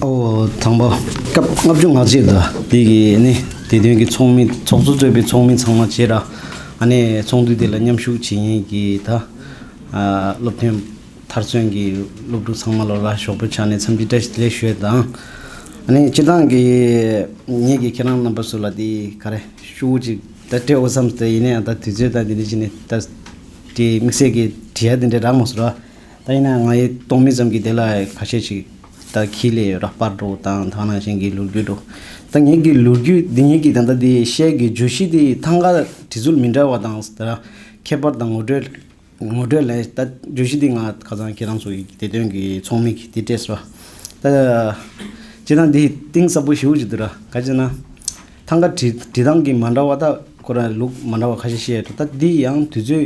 དང་པོ་སྐབས་ལྔ་བཅུ་ང་གཅིག་དང་བདུན་གྱི་ནི་དེ་བདུན་གྱི་ཚོགས་མི་ཚོགས་གཙོ་གཙོས་པའི་ཚོགས་མི་ཚང་མ་བཅས་ར་ཨ་ནས་ཚོགས་འདུ་དེ་ལ་མཉམ་ཞུགས་བྱེད་ཉེས་ཀྱི་ད་སློབ་ཐོན་མཐར་སོན་གྱི་སློབ་ཕྲུག་ཚང་མ་ལོ་ལ་ཞོགས་པའི་ཆ་ནས་འཚམས་འདྲི་བཀྲ་ལེགས་ཞུས་དང་ཨ་ནས་སྤྱི་བཏང་གི་ཉིད་ཀྱི་ཁྱེད་རང་རྣམ་པ་སུ་ལ་དེ་ག་རེ་ཤུགས་ཅིག་ད་སྤྲད་འོ་བསམ་ཟེར་ཡིན་ན་ཡང་ད་དུས་ཚོད་ད་འདི་འདྲ་བྱས་ནས་ད་དེ་དམིགས་བསལ་གྱི་དྲི་ཡ་འདི་འདྲ་རག་མ་སོང་ར། ད་ཡིན་ན་ཡང་ང་ཡི་སྟོང་མི་ཙམ་གྱི་དེ་ལ་ཁ་ཤས་ཤིག་ད་ཁྱི་ལས་རག་པར་འགྲོ་དང་ཐང་ན་གཞན་གྱི་ལུར་རྒྱུགས་འགྲོ། ད་ངེད་ཀྱི་ལུར་རྒྱུགས་འདི་ངེད་ཀྱི་ད་ད་དེ་ཤའི་གི་འཇུ་གཞི་དེ་ཐང་ག་དྲི་ཚུལ་མི་འདྲ་བ་དང་ཟླ་ཁྱད་པར་དང་ངོ་སྤྲོད། ངོ་སྤྲོད་ལས། ད་བརྗོད་གཞི་འདི་ང་ཁ་ཚང་ཁྱེད་རང་ཚོ་ཡི་དེ་དོན་གི་ཚོགས་མི་གི་དེ་སྤྲད་སོ། ད། ཅེ་ན་འདི་གཏིང་ཟབ་པོ་ཞིའུ་ཅིག་འདུག་ར་ག་ཅེ་ན། ཐང་ག་བྲི་བྲི་སྟངས་གི་མ་འདྲ་བ་ད་ཁོ་ར་ལུག་མ་འདྲ་བ་ཁ་ཤས་བཤད་ཡོད་ད་འདི་ཡང་དུས་ཚོད་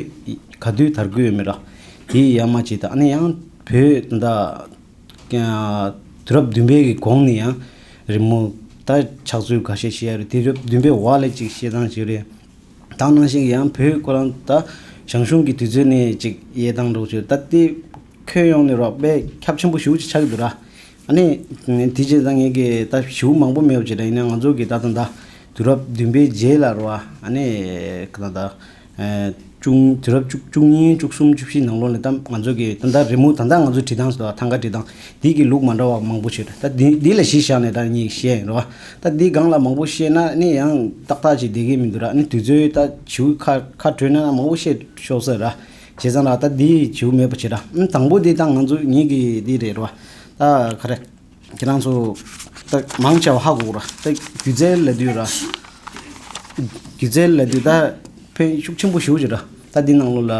ག་དུས་དར་གི་ཡོད་མེད་ར། དེ་ཡི་ཡ་མ་བྱས་ད་ཨ་ནི་ཡང་བོད་ད། དུས་རབས་བདུན་པའི་གི་གོང་ནས་ཡང་རི་མོ་ད་ཆགས་ཚུལ་ག་ཤས་བཤད་ཡོད་རེད་དུས་རབས་བདུན་པའི་བར་ལས་ཅིག་བཤད་སྟངས་ཞིག་རེད། དང་ནང་བཞིན་ཡང་བོད་ཁོ་རང་ད་ཞང་ཞུང་གི་དུས་ཚོད་ནས་ཅིག་གཡས་དང་འགྲོགས་བྱོས་ད་ལྟའི་ཁྱོད་ཡོང་ནས་རོགས་པས་ཁྱབ་ཆེན་པོ་ཞུ་ཅིག་ཆགས་ཀྱི་འདུག་ར་ཨ་ནེ། དེ་རྗེས་ད་ངེད་ཀྱི་ད་ཞུ་མང་པོ་མེད་བྱས་ད་ཡིན་ན་ང་ཚོ་གི་ད་ད་ད་དུས་རབས་བདུན་པའི་རྗེས་ལ་རོ་ཨ་ནེ། ད་ད་བཅུ་དུས་རབས་བཅུ་གཉིས་བཅུ་གསུམ་བཅུ་བཞི་ནང་ལོགས་ནས་ད་ང་ཚོ་གི་ད་ད་རི་མོ་ད་ད་ང་ཚོ་བྲིས་སྟངས་སུ་ད་ཐང་ག་བྲིས་སྟངས། འདི་གི་ལུགས་མ་འདྲ་བ་མང་པོ་བྱོས། ད་འདི་ལ་གཞི་བཞག་ནས་ད་ངས་བཤད་རེད་བ། ད་འདི་སྒང་ལ་མང་པོ་བཤད་ན་ནི་ཡང་ཏག་ཏག་ཅིག་བསྡད་གི་མི་འདུག་ར་ནི་དུས་ཚོད་ད་བྱིའུ་ཁ་ཁ་བྲོས་ན་མང་པོ་བཤད་ཆོག་ས་ར། བྱས་ཙང་ར་ད་འདི་བྱིའུ་མེད་པ་བྱས་ར། དང་པོ་འདི་ད་ང་ཚོ་ཉིད་ཀྱི་འདི་རེད་བ། ད་ག་རེ། ཁྱེད་རང་ཚོ་ད་མང་ཆེ་བ་ཧ་གོ་གོ་ར། ད་སྒྱུ་རྩལ་ལ་དུས་ར། སྒྱུ་རྩལ་ལ་དུས་ད་ཕན་ཤུགས་ཆེན་པོ་ཞུགས་བྱོས་ར། ད་འདི་ནང་ལོ་ལ།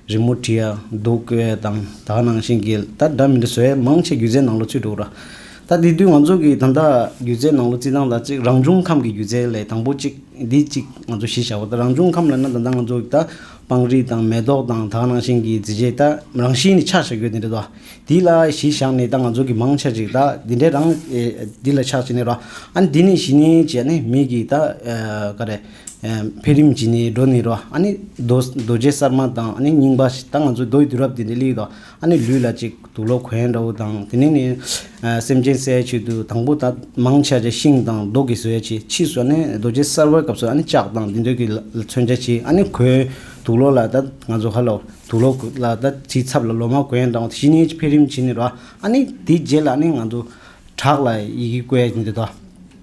རི་མོ་བྲིས་ཡག་འདུག་བས་དང་དག་ནང་བཞིན་གྱི་ད་སྒྲ་མི་འདྲ་ཟེར་བས་མང་ཆེ་སྒྱུ་རྩལ་ནང་ལོ་ཚུད་འདུག་ར་ད་དེ་དུས་ང་ཚོ་གི་ད་ལྟ་སྒྱུ་རྩལ་ནང་ལོ་རྩིས་སྟངས་དང་གཅིག་རང་བྱུང་ཁམས་ཀྱི་སྒྱུ་རྩལ་ལས་དང་པོ་གཅིག་འདི་གཅིག་ང་ཚོ་གཞི་བཞག་པ་ད་རང་བྱུང་ཁམས་ལས་ན་ད་ལྟ་ང་ཚོ་གི་ད་སྤང་རི་དང་མེ་ཏོག་དང་དག་ནང་བཞིན་གྱི་རྫི་བྱེད་ད་རང་བཞིན་ནི་ཆགས་བྱ་གྱུར་དེ་འདྲ་ད་དེ་ལ་གཞི་བཞག་ནས་ད་ང་ཚོ་གི་མང་ཆེ་ཞིག་ད་དེ་འདྲའི་རང་དེ་ལ་ཆགས་བྱེད་ནི་ར་ཨ་ནི་དེ་ནི་གཞི་ནི་བྱས་ནས་མིག་གིས་ད་ཀ་རེ། འཕེལ་རིམ་གྱི་ནི་སྒྲོ་ནི་རོ། ཨཱ་ནི། རྡོ་རྗེ་གསར་མ་དང་ཨཱ་ནི་རྙིང་པ། ད་ང་ཚོའི་རྡོ་ཡི་དུས་རབས་འདི་ནི་གླིག་དང་ཨཱ་ནི་ལུས་ལ་གཅིག་དུག་ལོ་གོན་འདྲ་བོ་དང་དེ་ནས་ནི། སེམས་ཅན་གསལ་བྱེད་དུ་དང་པོ་ད་མང་ཆ་ཆེ་ཤིང་དང་རྡོ་གིས་བཟོས་བྱས་ཕྱིས་སུ་ཨཱ་ནི་རྡོ་རྗེ་གསར་བའི་སྐབས་སུ་ཨཱ་ནི་ལྕགས་དང་དེ་འདོད་ཀྱི་མཚོན་ཆ་བྱས་ཨཱ་ནི་གོས་དུག་ལོ་ལ་ད་ང་ཚོ་ཧ་ལོ་དུག་ལོ་ལ་ད་དེའི་ཚབ་ལ་ལོ་མ་གོན་འདྲ་བོ་བཞི་ནི་འཕེལ་རིམ་གྱི་ནི་རོ། ཨཱ་ནི་དེའི་རྗེས་ལ་ནི་ང་ཚོ་བྲག་ལ་ཡི་གེ་བཀོད་ཀྱིན་འདི་དོ།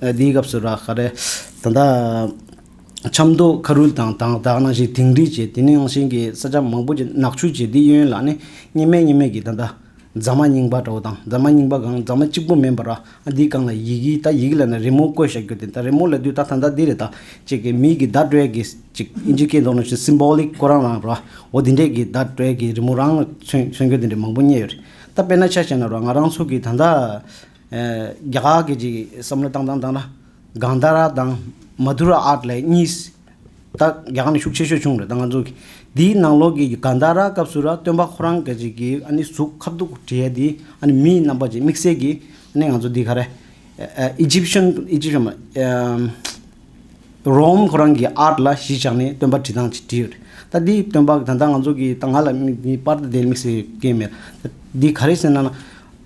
དེའི་སྐབས་སུ་རག་ག་རེ། ད་ལྟ་ཆབ་མདོ་ཁ་རུལ་དང་དྭངས་དྭངས་ནང་བཞིན་དིང་རི་བྱས་དེ་ནི་རང་བཞིན་གྱི་ས་ཆ་མང་པོ་ཆེ་ནག་ཆུ་བྱས་དེའི་གཡོན་ལག་ནི་སྙེ་མའི་སྙེ་མས་ཀྱི་ད་ལྟ་རྫ་མ་རྙིང་པ་འདྲ་བོ་དང་རྫ་མ་རྙིང་པ་གང་རྫ་མ་གཅིག་པོ་མིན་པར་ར་འདི་རྐང་ལ་ཡི་གི་ད་ཡི་གི་ལ་ནི་རི་མོ་བརྐོས་བཞག་རྒྱུ་དེ་ད་རི་མོ་ལ་དུས་ད་ད་ད་འདི་རེད་ད་ཅེས་ཀྱི་མིག་གི་ད་སྤྲོད་ཀྱི་ཅིག་ཨིན་ཇི་སྐད་འདོགས་ནང་བཞིན Symbolic བརྐོ་རང་རང་ར་འོ་དེ་འདྲས་ཀྱི་ད་སྤྲོད་ཀྱི་རི་མོ་རང་ལ་མཚོན་མཚོན་རྒྱུ་དེ་འདྲས་མང་པོ་རྙེད་ཡོད་རེད་ད་དཔེར་ན་ཆ་བྱས་ན་ར་ང་རང་ཚོ་གི་ད་ད་རྒྱ་གར་གྱི་ཅིག་བསམ་བློ་བཏང་དང་བཏང་ན་གང་ལྟར་ར་དང་མ་དུ་ར་ཨར་ལས་གཉིས་ད་རྒྱ་གར་ནས་ཤུགས་ཆེ་ཤོས་བྱུང་རེད་ད་ང་ཚོ་གི་དེའི་ནང་ལོགས་ཀྱི་གང་ལྟར་ར་སྐབས་སུ་ར་སྟོན་པ་ཁོ་རང་གི་ཅིག་གི་ཨ་ནི་གཟུགས་ཁ་སྡུག་དྲི་ཡ་དེ་ཨ་ནི་མིའི་རྣམ་པ་ཅིག་དམིགས་བསལ་གྱི་ཨ་ནི་ང་ཚོ་འདི་ག་རེ Egyptian Egyptian མ་རོམ་ཁོ་རང་གི་ཨར་ལ་གཞིས་ཆགས་ནས་སྟོན་པ་དྲི་བཏང་ཅིག་དྲི་ཡོད་རེད་ད་འདིའི་སྟོན་པ་ད་ལྟ་ང་ཚོ་གི་ད་ང་ལ་དམིགས་ནས་པར་དུ་དེ་དམིགས་བསལ་གྱི་སྐད་མེད་འདི་ག་རེ་ཟེར་ན་ན་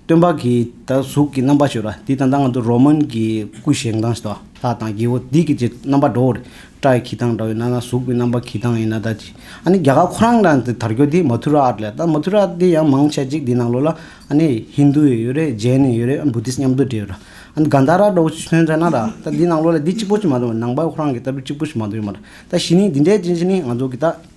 སྟོན་པ་གྱིས་ད་གཟུགས་ཀྱི་རྣམ་པར་བྱོས་ལ་དེའི་དང་ཐང་ང་དུ་རོ་མོན་གྱི་སྐུ་བཞེངས་སྟངས་ཤིག་དང་ལྷ་དང་རྒྱལ་བོ་སྡིག་གི་རྗེ་རྣམ་པར་འགྲོ་བ་རི་བཀྲ་ཡི་གྱི་ཐང་འདྲ་བའི་ནང་ན་གཟུགས་ཀྱི་རྣམ་པར་གྱི་ཐང་ཡིན་ན་ད་ཅི་ཨ་ནི་རྒྱ་གར་ཁོ་རང་རང་དེ་དར་རྒྱོ་དེ་མ་ཐུ་ར་ཨར་ལས་ད་མ་ཐུ་ར་དེ་ཡང་མང་ཆེ་གཅིག་དེ་ནང་ལོགས་ལ་ཨ་ནི་ཧིན་དུ་ཡོད་རེད་རྗེན་ནི་ཡོད་རེད་ཨ་བུདྡྷིས་མཉམ་དུ་འདྲེས་ཡོད་ར་ཨ་ནི་གཱན་དྷ་ར་འདྲ་བོ་ཆོན་ཆ་ན་ར་ད་དེ་ནང་ལོགས་ལ་དེ་གཅིག་པོ་ཅིག་མ་འདུག་ནང་པ་ཁོ་རང་གི་ལྟ་བུ་གཅིག་པོ་ཞིག་མ་འདུག་ཡོད་མ་ར་ད་བཞི་ནི་འདི་འདྲའི་རྗེན་ཅི་ནི་ང་ཚོ་གི་ད།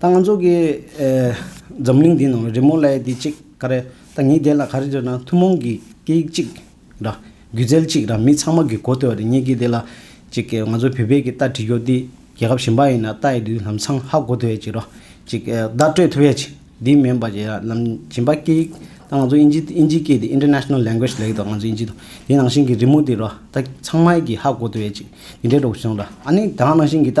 ད་ང་ཚོ་གི་འཛམ་གླིང་འདི་ནང་རི་མོ་ལས་འདི་གཅིག་ག་རེ་ད་ངས་བལྟས་ལ་ག་རེ་རེད་ན་ཐུན་མོང་གི་སྐད་ཡིག་གཅིག་ར་སྒྱུ་རྩལ་གཅིག་ར་མི་ཚང་མ་གི་གོ་ཐོས་རེད་ངས་ཀྱི་དེ་ལ་གཅིག་གི་ང་ཚོ་བོད་པས་ཀྱི་རྟ་བྲི་རྒྱུ་འདི་རྒྱལ་ཁབ་གཞན་པ་ཡིན་ན་རྟ་ཡི་དུས་ལམ་སང་ཧ་གོ་ཐོས་ཀྱི་ར་གཅིག་བརྡ་སྤྲོད་ཐུབ་ཡས་ཀྱི་འདི་མིན་པ་ཀྱི་ར་ལམ་གྱིན་པ་སྐད་ཡིག་ད་ང་ཚོ་ཨིན་ཇི་ཨིན་ཇི་སྐད་འདི International Language ལས་ད་ང་ཚོ་ཨིན་ཇི་དང་དེ་ནང་བཞིན་གྱི་རི་མོ་འདི་ར་ད་ཚང་མ་ཡི་གི་ཧ་གོ་ཐུབ་ཡས་ཀྱི་འདི་འདྲའི་དྲོག་ཆུང་ར་ཨ་ནི་ད་ནང་བཞིན་གྱི་ད་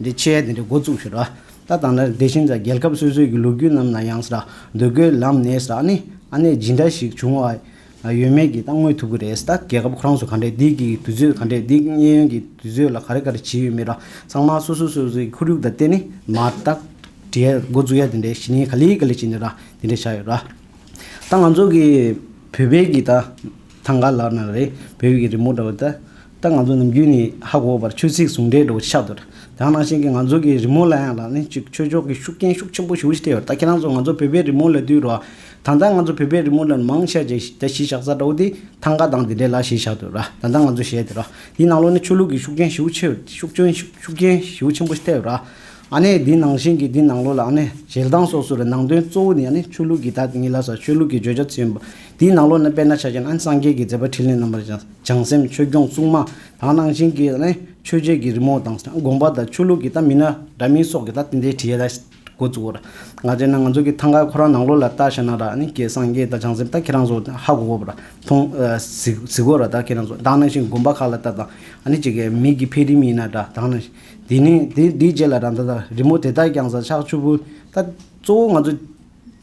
འདི་ཆེ་དེ་འདྲའི་འགོ་བཙུགས་ཞེས་ར་ལྟ་དང་ལ་འདེ་ཤིང་ཚ་རྒྱལ་ཁབ་སོ་སོའི་གི་ལོ་རྒྱུས་རྣམས་ན་ཡང་ས་ར་འདོད་རྒོལ་ལམ་ནས་ས་ནི་ཨ་ནེ་ཇི་འདྲ་ཞིག་བྱུང་བ་ཡོད་མེད་ཀྱི་ལྟ་དངོས་ཐུབ་གི་རེད་ས་རྒྱལ་ཁབ་ཁོ་རང་ཚོ་ག་འདྲའི་སྡིག་གི་དུས་ཚོད་ག་འདྲའི་སྡིག་གཉེན་ཡོན་གྱི་དུས་ཚོད་ལ་ག་རེ་ག་རེ་བྱས་ཡོད་མེད་ར་ཚང་མ་སོ་སོ་སོ་སོའི་གི་ཁོར་ཡུག་དང་བརྟེན་ནས་མ་བརྟག་འདྲའི་འགོ་བཙུགས་ཡ་དེ་འདྲའི་གཞི་ནས་ག་ལེ་ག་ལེ་བྱས་ནས་ར་དེ་འདྲ་བྱ་ཡོད་ར་ད་ང་ཚོ་གི་བོད་པའི་གི་ད། ཐང་ག་ལགས་ནང་རེད་བོད་ཡིག་གི་རི་མོ་འདྲ་བོ་ད་ལྟ་ང་ཚོ་ནམ་རྒྱུན་ནས་ཧ་གོ་བར་ཆོས་ཚིག་ཟུང་འབྲེལ་འདྲ་བོ་ཆགས་འདུག་དང་ནང་བཞིན་གྱི་ང་ཚོ་གི་རི་མོ་ལ་ཡང་ལ་ནི་གཅིག་ཆོས་ཕྱོགས་ཀྱི་ཤུགས་རྐྱེན་ཤུགས་ཆེན་པོ་ཞུགས་བཞིན་ཡོད་ད་ཁྱེད་རང་ཚོ་ང་ཚོ་བོད་པའི་རི་མོ་ལ་བསྡུས་རོགས་ད་ལྟ་ང་ཚོ་བོད་པའི་རི་མོ་ལ་མང་ཤས་ཀྱི་ད་གཞིས་ཆགས་ས་འདྲ་བོ་དེ་ཐང་ག་དང་དེ་འདྲའི་ལ་ཞེས་བཞག་འདུག་ར་ད་ལྟ་ང་ཚོ་བཞད་དེ་ར་དེའི་ནང་ལོ་ནི་ཆོས་ལུགས་ཀྱི་ཤུགས་རྐྱེན་ཞུགས་ཆེ་ཤུགས་རྐྱེན་ཤུགས་རྐྱེན་ཞུགས་ཆེན་པོ་ཐེབས་ར། ཨ་ནེ་འདི་ནང་བཞིན་གྱི་འདི་ནང་ལོགས་ལ་ཨ་ནེ་ཞལ་གདངས་སོགས་སུ་རེ་ནང་དོན་གཙོ་བོ་ནི་ཨ་ནེ་ཆོས་ལུགས་ཀྱི་བདག་ཉིད་ལ་ས་ཆོས་ལུགས་ཀྱི་བརྗོད་བྱ་ཚུལ་ཡིན་པ། དེའི་ནང་ལོགས་ན་དཔལ་ནཱ་ཤཱ་ཀྱ་ནཱན་སངས་རྒྱས་ཀྱི་མཛད་པ་ཕྲིན་ལས་རྣམ་པར་སྦྱངས་སེམས་ཆོས་སྐྱོང་བཙུན་མ་དང་ནང་བཞིན་གྱི་ཨ་ནེ་ཆོས་རྗེ་ཀྱི་རི་མོ་དང་དགོངས་པ་དང་ཆོས་ལུགས་ཀྱི་ལྟ་མི་སྣ་འདྲ་མིན་སོགས་ཀྱི་ལྟ་དེ་འདྲའི་བྲིས་ཡས་འགོ་བཙུགས་ཨོ་ར་ང་བྱས་ན་ང་ཚོ་གི་ཐང་ག་ཁོ་རང་ནང་ལོགས་ལ་ལྟ་ཤ་ན་ར་ཨ་ནེ་ཀྱེ་སངས་རྒྱས་ད་བྱང་སེམས་ད་ཁྱེད་རང་ཚོ་ཧ་གོ་གོ་པ་ར་ཐོང་གཟིགས་གཟིགས་གོ་ར་ད་ཁྱེད་རང་ཚོ་དང་ནང་བཞིན་དགོངས་པ་ཁག་ལ་ལྟ་དང་ཨ་ནེ་ཅིག་གི་མིག་གི་འཕེལ་རིམ་ཡིན་ན་འདྲ་དང་ནང་བཞིན། དེ་ནས་དེ་དེའི་རྗེས་ལ་རང་ད་ད་རི་མོ་དེ་དག་ཀྱང་ཟ་ཆག་ཆུ་བུ་ད་གཙོ་བོ་ང་ཚོ་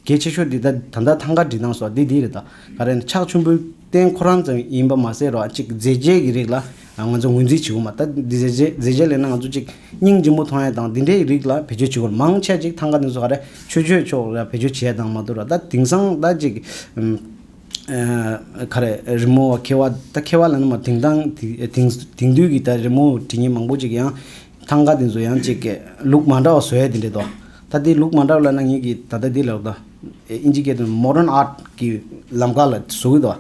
གལ་ཆེ་ཤོས་དེ་ད་ད་ལྟ་ཐང་ག་འབྲི་སྟངས་སོགས་དེ་དེ་རེད་ད་ག་རེ་ན་ཆག་ཆུ་བུ་བརྟེན་ཁོ་རང་ཙམ་ཡིན་པ་མ་ཟད་རོ་གཅིག་མཛེས་རྒྱས་ཀྱི་རིགས་ལ་ང་ཚོ་ངོས་འཛིན་བྱེད་དགོས་མ་ད་དེ་མཛེས་རྒྱས་མཛེས་རྒྱས་ལས་ན་ང་ཚོ་གཅིག་སྙིང་རྗེ་མོ་མཐོང་ཡས་དང་དེ་འདྲའི་རིགས་ལ་བེད་སྤྱོད་བྱེད་དགོས་མང་ཆེ་གཅིག་ཐང་ག་འདི་ཚོ་ག་རེ་ཆོས་སྤྱོད་ཕྱོགས་ལ་བེད་སྤྱོད་བྱེད་ཡས་དང་མ་གཏོགས་ར་ད་དེང་སང་ད་གཅིག་ཁ་རེད། རི་མོ་བ་ཁེ་བ་ད་ཁེ་བ་ལ་ནི་མ་དེང་དང་དེང་དུས་ཀྱི་ད་རི་མོ་བྲིས་ཉེས་མང་པོ་ཅིག་ཡང་ཐང་ག་དེ་ཚོ་ཡང་ཅིག་གེ་ལུགས་མ་འདྲ་བ་བཟོས་དེ་འདྲེ་ད་ད་དེ་ལུགས་མ་འདྲ་བ་ལ་ན་ངེད་ཀྱི་ད་ད་དེ་ལ་ད་ཨིན་ཇི་སྐད་དུ Modern Art གི་ལམ་ཁ་ལ་ཟུག་གི་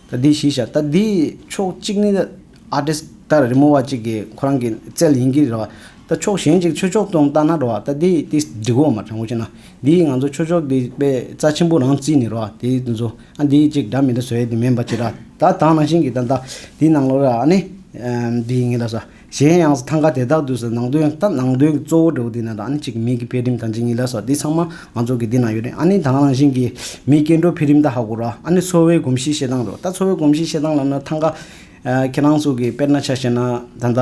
ད་ད་དེ་ཞིག་བྱ་ད་དེ་ཕྱོགས་གཅིག་ནི་ད། ཨ་ཏི་ད་རི་མོ་བ་གཅིག་གིས་ཁོ་རང་གི་རྩལ་ཡིན་གྱི་རེད་བ། ད་ཕྱོགས་གཞན་གཅིག་ཆོས་ཕྱོགས་སྟོང་བལྟ་ན་རེད་བ། ད་འདི་ཏི་འདི་གོ་མ་དྲང་བོ་བྱས་ན། འདིས་ང་ཚོ་ཆོས་ཕྱོགས་འདི་པའི་རྩ་ཆེན་པོ་རང་བརྩིས་ནས་རེད་བ། དེ་ནི་ཚོ་ཨ་འདིའི་གཅིག་འདྲ་མི་འདྲ་བཟོས་དེ་མིན་པ་ཅི་རེད་ད་དང་ནང་བཞིན་གྱི་ད་འདིའི་ནང་ལོགས་རེད་ཨ་ནི། འདི་ཡིན་གྱི་རེད་ཟ། གཞན་ཡང་ཐང་ག་དེ་དག་དུས་སུ་ནང་དོན་ད་ནང་དོན་གྱི་གཙོ་བོ་འབྲས་བུ་འདི་ན་རེད་ཨ་ནི་གཅིག་མིག་གི་འཕེལ་རིམ་ད་འདི་ཉིད་རེད་ཟ་འདི་ཚང་མ་ང་ཚོ་གི་འདི་ན་ཡོད་རེད་ཨ་ནི་དང་ནང་བཞིན་གྱི་མིའི་སྐྱེ་འགྲོ་འཕེལ་རིམ་ད་ཧ་གོ་རེད་ཨ་ནི་འཚོ་བའི་གོམས་གཤིས་བཤད་སྟངས་རེད་བ། ད་འཚོ་བའི་གོམས་གཤིས་བཤད་སྟངས་ལ་ན་ཐང་ག། ཁྱེད་རང་ཚོ་གིས་དཔེར་ན་ཆ་བཤད་ན་ད་ལྟ་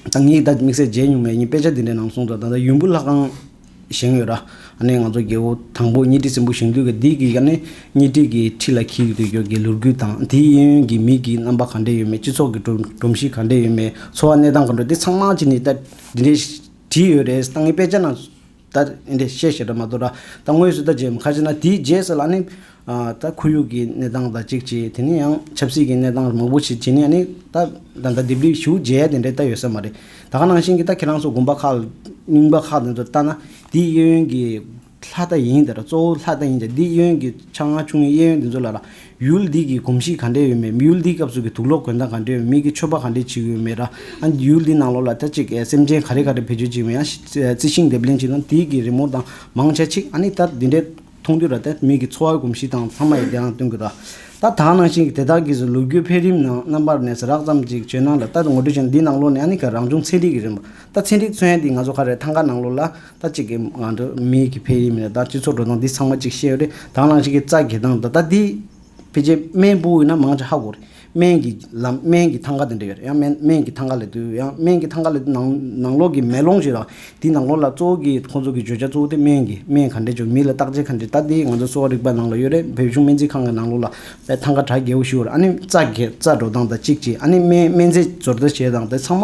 ད་ངས་ད་དམིགས་བསལ་མཇལ་མྱོང་མེད་ཡིན་དཔེ་ཆ་འདི་འདྲའི་ནང་གསུངས་སོང་ད་ལྟ་ཡུམ་བུ་ལྷ་ཁང་བཞེངས་ཡོད་ར་ཨ་ནེ་ང་ཚོ་རྒྱལ་བོ་དང་པོ་ཉི་ཁྲི་སྲིན་པོ་བཞེངས་དུས་ཀྱི་དེ་གི་ཡ་ནི་ཉི་ཁྲི་གི་ཁྲི་ལ་འཁྱིལ་དུས་ཀྱི་གི་ལུར་རྒྱུད་དང་དེའི་གཡས་གཡོན་གྱི་མིག་གི་རྣམ་པ་ག་འདྲས་ཡོད་མེད་སྤྱི་ཚོགས་ཀྱི་སྒྲོམ་གཞི་ག་འདྲས་ཡོད་མེད་འཚོ་བ་གནས་སྟངས་ག་འདྲ་དེ་ཚང་མ་ཅི་ནས་ད་འདི་འདྲས་བྲིས་ཡོད་རེད་ད་ངས་དཔེ་ཆ་ན་ད་ཨིན་དྲེ་ཤེས་ཞེས་སྒྲ་མ་གཏོགས་དྲ་ད་དངོས་སུ་ད་ཇེ་ཁ་ཆེ་ན་དེའི་རྗེས་སུ་ལ་ནི། ད་ཁོར་ཡུག་གི་གནས་སྟངས་དང་གཅིག་བྱས་དེ་ནས་ཡང་ཆབ་སྲིད་ཀྱི་གནས་སྟངས་མང་པོ་བྱས་བྱས་ནས་ཡང་ནི་ད་ད་ད་དེབ་རིགས་ཞུ་རྗེས་དེ་འདྲས་ད་ཡོད་ས་མ་རེད། ད་ག་ནང་བཞིན་གྱི་ད་ཁྱེད་རང་ཚོ་དགོན་པ་ཁག་རྙིང་པ་ཁག་དེ་ཚོར་བལྟ་ན་དེའི་གཡས་གཡོན་གྱི་ལྷ་ད་ཡིན་དེ་དག་གཙོ་བོ་ལྷ་ད་ཡིན་ཀྱང་དེའི་གཡས་གཡོན་གྱི་ཆ་ལྔ་ཆུང་ངུའི་གཡས་གཡོན་དེ་ཚོ་ལ་ལ་ཡུལ་འདི་གི་གོམས་གཤིས་ག་འདྲས་ཡོད་མེད་ཡུལ་འདིའི་སྐབས་སུ་གི་དུག་ལོག་གོན་སྟངས་ག་འདྲས་ཡོད་མེད་ཀྱི་ཆོས་པ་ག་འདྲས་བྱེད་གི་ཡོད་མེད་ར་ཨ་ཡུལ་འདི་ནང་ལོག་ལ་ད་ཅིག་སེམས་ཅན་ག་རེ་ག་རེ་བེད་སྤྱོད་བྱེད་མེད་ཨ་རྩི་ཤིང་འདེབས་ལེན་བྱེད་སྟངས་དེའི་གི་རི་མོ་དང་མང་ཆ་ཆིག་ཨ་ནི་ད་འདི་འདྲས་མཐོང་དུས་ར་ད་མི་གི་འཚོ་བའི་གོམས་གཤིས་དང་ཚང་མ་ཡི་དེ་རང་སྟོན་གི་ར། ད་དག་ནང་བཞིན་གི་དེ་དག་གིས་ལུ་གུའི་འཕེལ་རིམ་ནང་རྣམ་པར་ནས་རགས་ཙམ་ཅིག་བྱོན་སྣང་ལ་ད་ངོ་སྤྲོད་བྱེད་འདི་ནང་ལོག་ནས་ཨ་ནི་ག་རང་བྱུང་ཚན་རིག་གི་རིན་པ་ད་ཚན་རིག་མཚོན་ཡ་འདི་ང་ཚོ་ག་རེ་ཐང་ག་ནང་ལོག་ལ་ད་གཅིག་གིས་ང་ཚོ་མིའི་གི་འཕེལ་རིམ་ནས་ད་སྤྱི་ཚོགས་འགྲོ་སྟངས་འདི་ཚང་མ་གཅིག་ཤེས་རེད་དྭང་བླངས་ཤིག་གི་རྩ་འགེལ་སྟངས་ད་ད་འདི། ཕལ་ཆེར་སྨན་སྤུ་དབུས་ན་མང་ཆེ་ཧ་གོ་རེད་སྨན་གི་ལམ་སྨན་གི་ཐང་ག་དེ་འདྲ་ཡོད་རེད་ཡང་སྨན་སྨན་གི་ཐང་ག་ལས་དུ་ཡང་སྨན་གི་ཐང་ག་ལས་དུ་ནང་ནང་ལོགས་ཀྱི་མེ་ལོང་ཞིག་རག་དེའི་ནང་ལོགས་ལ་གཙོ་བོ་གི་ཁོང་ཚོ་གི་བརྗོད་བྱ་གཙོ་བོ་དེ་སྨན་གི་སྨན་ག་འདྲས་བྱུང་མི་ལ་བརྟག་དཔྱད་ག་འདྲས་ད་འདི་ང་ཚོ་གསོ་བ་རིག་པ་ནང་ལ་ཡོད་རེད་བོད་གཞུང་སྨན་རྩིས་ཁང་གི་ནང་ལོགས་ལ་པའི་ཐང་ག་གྲ་རྒྱས་པོ་ཞིག་ཡོད་རེད་ཨ་ནི་རྩ་འགེལ་རྩ་འགྲོ་སྟངས་ད་གཅིག་གཅིག་ཨ་ནི་སྨན་སྨན་རྫས་སྦྱོར་རྩ་བྱེད་སྟངས་དེ་ཚང་མ་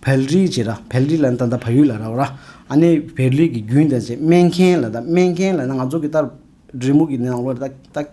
བལ་རི་བྱེད་ར་བལ་རི་ལ་ད་ད་བལ་ཡུལ་ལ་ར་བ་ར་ཨ་ནེ་བལ་རི་གི་རྒྱུན་དང་བཅས་སྨན་མཁན་ལ་ད་སྨན་མཁན་ལ་ན་ང་ཚོ་གི་ལྟར་རི་མོ་གི་ནང་ལོ་རེ་ད་ད་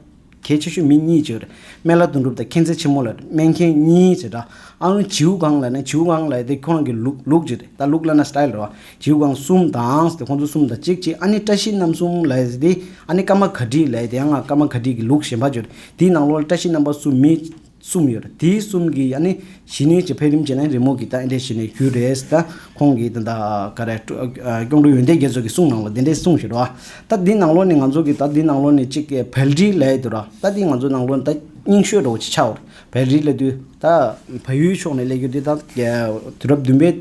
གལ་ཆེ་ཤོས་མི་གཉིས་བྱེད་རེད་སྨན་བླ་དོན་གྲུབ་དང་མཁྱེན་བརྩེ་ཆེན་མོ་ལ་སྨན་མཁན་གཉིས་བྱེད་ར་ཨ་ཨུ་བྱིའུ་གངས་ལ་ན་བྱིའུ་གངས་ལ་ད་ཁོ་རང་གི་ལུག་ལུག་བྱེད་རེད་ད་ལུག་ལ་ན་སྟཱིལ་ར་བ་བྱིའུ་གངས་གསུམ་དང་ད་ཁོ་ཚོ་གསུམ་དང་གཅིག་གཅིག་ཨ་ནེ་བཀྲ་ཤིས་རྣམ་གསུམ་ལ་ད་ཨ་ནེ་ཀརྨ་ག་དྲི་ལ་ད་ཡང་ང་ཀརྨ་ག་དྲི་གི་ལུག་གཞན་པ་བྱེད་རེད་དེའི་ནང་ལོ་ལ་བཀྲ་ཤིས་རྣམ་པ་གསུམ་མི་གསུམ་ཡོད། དེ་གསུམ་གྱི་ཡང་ནི་ཞི་གནས་ཀྱི་འཕེལ་རིམ་ཅན་ནི་རི་མོ་གི་ལྟ་འདྲེ་ཞི་གནས་རྒྱུད་རེད། ད་ཁོང་གིས་དེ་འདྲ་ག་རེ། སྐྱོང་གྲོལ་ཡོན་ཏན་རྒྱལ་མཚོས་ཀྱི་གསུང་ནང་ལ་དེ་འདྲས་གསུངས་ཞེས་དྲོ། ད་འདི་ནང་ལོ་ནི་ང་ཚོ་གི་ད་འདི་ནང་ལོ་ནི་གཅིག་གི་བལ་རིའི་ལས་དུས་ར། ད་འདི་ང་ཚོ་ནང་ལོ་ནི་ད་རྙིང་ཤོས་དྲོ་ཆི་ཆ་འོ། བལ་རིའི་ལས་དུས། ད་བལ་ཡུལ་ཕྱོགས་ནས་ལས་རྒྱུ་དེ་ད། དུས་རབས་བདུན་པའི་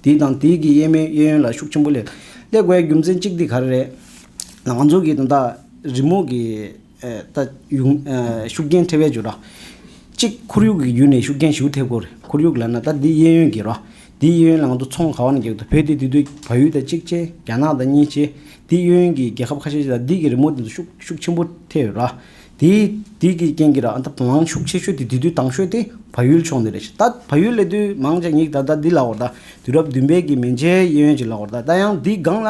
དུས་དང་དེའི་གི་གཡས་མའི་གཡས་གཡོན་ལ་ཤུགས་ཆེན་པོ་ལས། ཀླད་ཀོའི་རྒྱུ་མཚན་གཅིག་འདི་ག་རེ་རེད། ང་ཚོ་གི་དེ་འདྲ་རི་མོ་གི། ལྟ། ཤུགས་རྐྱེན་ཐེབས་པའི་འགྱུར་རོ། གཅིག་ཁོར་ཡུག་གི་བརྒྱུད་ནས་ཤུགས་རྐྱེན་ཞུགས་ཐེབས་སྐོར་ཁོར་ཡུག་ལ་ན་ད་འདི་གཡས་གཡོན་གྱི་རོ། འདི་གཡས་གཡོན་ལང་དུ་ཚོང་ག་བ་ན་གྱེག་དུ་བོད་དེ་དུས་དུས་བ་ཡུལ་དང་གཅིག་ཆེ་རྒྱ་ནག་དང་གཉིས་ཆེ་འདི་གཡོན་གཡོན་གྱི་རྒྱལ་ཁབ་ཁ་ཤས་ཆེ་ད་འདི་གི་རི་མོ་དེ་ཚོ་ཤུགས་ཤུགས་ཆེན་པོ་ཐེབས་ཡོད་རོ། དེ་དེ་གི་རྐྱེན་གྱིས་ར་ཨ་ད་བ་ལང་ཤུགས་ཆེ་ཤོས་དེ་དུས་དུས་ཏང་ཤོས་དེ་བ་ཡུལ་ཕྱོགས་འདི་རེད་ཤི་ད་བ་ཡུལ་ལས་དུས་མང་ཆ་ཉིག་ད་ད་འདི་ལ་བ་ད་དུས་རབས་བདུན་པའི་གི་མན་ཆའི་གཡས་གཡོན་གྱི་ལ་བ་ད་ད་ཡང་འདི་སྒང་ལ་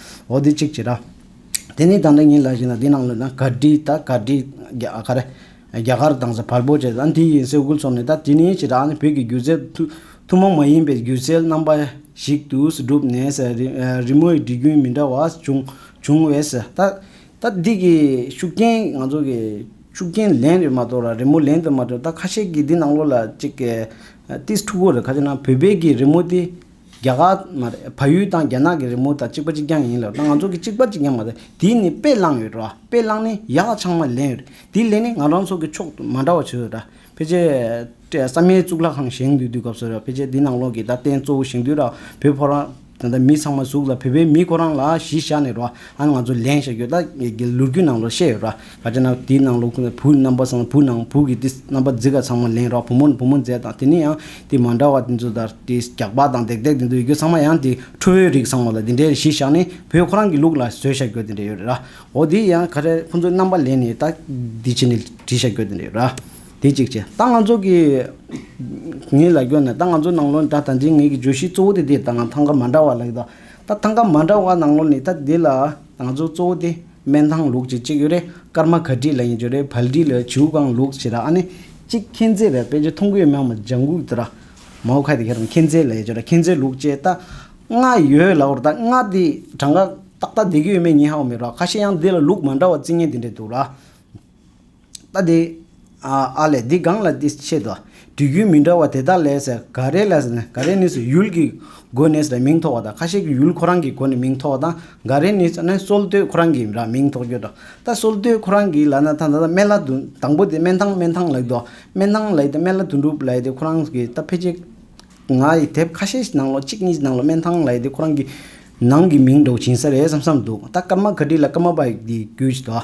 འོ་དེ་གཅིག་བྱས་ར། དེ་ནས་ད་ནི་ངའི་ལག་ཞིག་ན་དེ་ནང་ལོས་ན་གར་སྒྲིག་ད་གར་སྒྲིག་ག་རེ། རྒྱ་གར་དང་ས་བར་པོ་བཅས་ད་དེ་ཡིན་སའི་དབུ་ཚོགས་ནས་ད་དེ་ནས་བྱས་ར་ནི་བོད་ཀྱི་སྒྱུ་རྩལ་ཐུན་མོང་མ་ཡིན་པའི་སྒྱུ་རྩལ་རྣམ་པ་ཞིག་ཏུ་གྲུབ་ནས་རི་མོའི་སྒྲིག་རྒྱུན་མི་འདྲ་བ་བྱུང་བྱུང་བས་ད་ད་འདི་གི་ཤུགས་རྐྱེན་ང་ཚོ་གི་ཤུགས་རྐྱེན་ལན་རེ་མ་གཏོགས་ར་རི་མོ་ལན་དུ་མ་གཏོགས་ད་ཁ་ཤས་ཀྱི་འདི་ནང་ལོ་ལ་གཅིག་གི་ཏིས་ཕྲུ་གུ་རེ་ཁ་ཤས་ན་བོད་པའི་གི་རི་མོ་དེ། རྒྱ་གར་མ་རེད། ཕ་ཡུལ་དང་རྒྱ་ནག་གི་རི་མོ་དང་གཅིག་པ་གཅིག་རྐྱང་ཡིན་ལ་ང་ཚོ་གི་གཅིག་པ་གཅིག་རྐྱང་མ་རེད། དེ་ནི་དཔེ་བླངས་ཡོད་རེད། དཔེ་བླངས་ནས་ཡག་ལ་ཆང་མ་ལེན་ཡོད་རེད། དེ་ལས་ནི་ང་རང་ཚོ་གི་ཕྱོགས་དུ་མ་འདྲ་བ་བྱོས་རེད། ཕལ་ཆེར་བསམ་ཡས་གཙུག་ལག་ཁང་བཞེངས་འདུས་དུས་སྐབས་སུ་རེད། ཕལ་ཆེར་དེ་ནང་ལོགས་ཀྱི་ད་རྟེན་གཙོ་བོ་བཞེངས་དུས་ར་བོད་ཕོ་རང་ད་ལྟ་མི་ཚང་མ་གཟུགས་ལ་བོད་པའི་མི་ཁོ་རང་ལ་གཞི་བཞག་ནས་རེད། ང་ཚོ་ལེན་བཞག་ཡོད་ད་ལུར་རྒྱུད་ནང་ལོགས་བཤད་ཡོད་རེད། ཨ་ཅེ་ན་དེའི་ནང་ལོགས་ཁུང་ནས་བུ་རྣམ་པ་སངས་བུ་ནང་བུ་གི་དེ་རྣམ་པ་རྫི་ག་ཚང་མ་ལེན་རོགས་བུ་མོ་ནི་བུ་མོ་མཛེས་དང་དེ་ནས་ཡང་དེ་མ་འདྲ་བ་དེ་ཚོ་དར་དེ་རྒྱགས་པ་དང་རྡེག་རྡེག་དེ་ཚོ་ཡོད་རྒྱུ་ཚང་མ་ཡང་དེ་ཁྲོ་བོའི་རིགས་ཚང་མ་ལ་དེ་འདྲའི་གཞི་བཞག་ནས་བུ་ཁོ་རང་གི་ལུགས་ལ་བཟོས་བཞག་རྒྱུ་དེ་འདྲ་ཡོད་རེད་ར་འོ་དེ་ཡང་ག་རེ་ཁོ་ཚོའི་རྣམ་པ་ལེན་ནས་ད་འདི་བྱེད་ནས་བྲིས་བཞག་རྒྱུ་དེ་འདྲ་ཡོད་ར་དེ་གཅིག་བྱས་ད་ང་ཚོ་གི་ངའི་ལ་རྒྱོ་ནས་ད་ང་ཚོ་ནང་ལོགས་ད་ད་ཅིང་ངའི་གི་བརྗོད་གཞི་གཙོ་བོ་དེ་དེ་ད་ཐང་ག་མ་འདྲ་བ་ལ་ཡོད་ད་ད་ཐང་ག་མ་འདྲ་བ་ནང་ལོགས་ནས་ད་དེ་ལ་ང་ཚོ་གཙོ་བོ་དེ། སྨན་ཐང་ལུགས་ཀྱི་གཅིག་ཡོད་རེད་སྐར་མ་ག་བྲིས་ལ་ཡིན་རྒྱུ་རེད་བལ་བྲིས་ལ་བྱིའུ་གང་ལུགས་བྱས་ད་ཨ་ནི་གཅིག་མཁྱེན་བརྩེ་རེད་དཔེ་ཆ་མཐོང་གི་ཡོད་སྨྱོན་མ་ལྗང་གུ་དེ་ར་མའོ་ཁ་དེ་ག་རང་མཁྱེན་བརྩེ་ལ་ཡོད་རྒྱུ་ར་མཁྱེན་བརྩེ་ལུགས་བྱས་ད་ང་ཡོད་ལ་འོར་ད་ང་དེ་གྲངས་ཀ་ཏག་ཏག་བསྡད་ཀྱི་ཡོད་མེད་ཉི་ཧའོ་མི་རོགས་ཁ་ཤས་ཡང་དེ་ལ་ལུགས་མ་འདྲ་བ་རྩིས་ངན་དེ་འདྲས་འདུག་ལ། ལྟ་དེ། ཨ་ལས་འདི་གང་ལ་འདི་ཕྱེད་དོ། དུས་རྒྱུན་མི་འདྲ་བ་དེ་དག་ལས། ག་རེ་ལས། ག་རེ་ནི་ཡུལ་གྱི་སྒོ་ནས་མིང་ཐོགས་པ་དང་ཁ་ཤས་ཀྱི་ཡུལ་ཁོ་རང་གི་སྒོ་ནས་མིང་ཐོགས་པ་དང། ག་རེ་ནི་སོལ་བཏོད་ཁོ་རང་གི་མིང་ཐོགས་རྒྱུ་དང། ད་སོལ་བཏོད་ཁོ་རང་གི་ལ་ན་ཐང་ད་སྨན་བླ་དུ་དང་པོ་དེ་སྨན་ཐང་སྨན་ཐང་ལགས་དོ། སྨན་ཐང་ལགས་ཏེ་སྨན་བླ་དོན་གྲུབ་ལགས་ཏེ་ཁོ་རང་གི་ད་ཕལ་ཆེར། ང་ཡི་དེབ་ཁ་ཤས་ནང་ལོ་གཅིག་གཉིས་ནང་ལོ་སྨན་ཐང་ལགས་ཏེ་ཁོ་རང་གི། ནང་གི་མིང་འདོགས་བྱིན་ས་རེད་བསམ་བསམ་འདུག་ད་ཀརྨ་ག་དྲི་ལ་ཀརྨ་པ་ཡི་རྒྱུད་ཅིག་དང།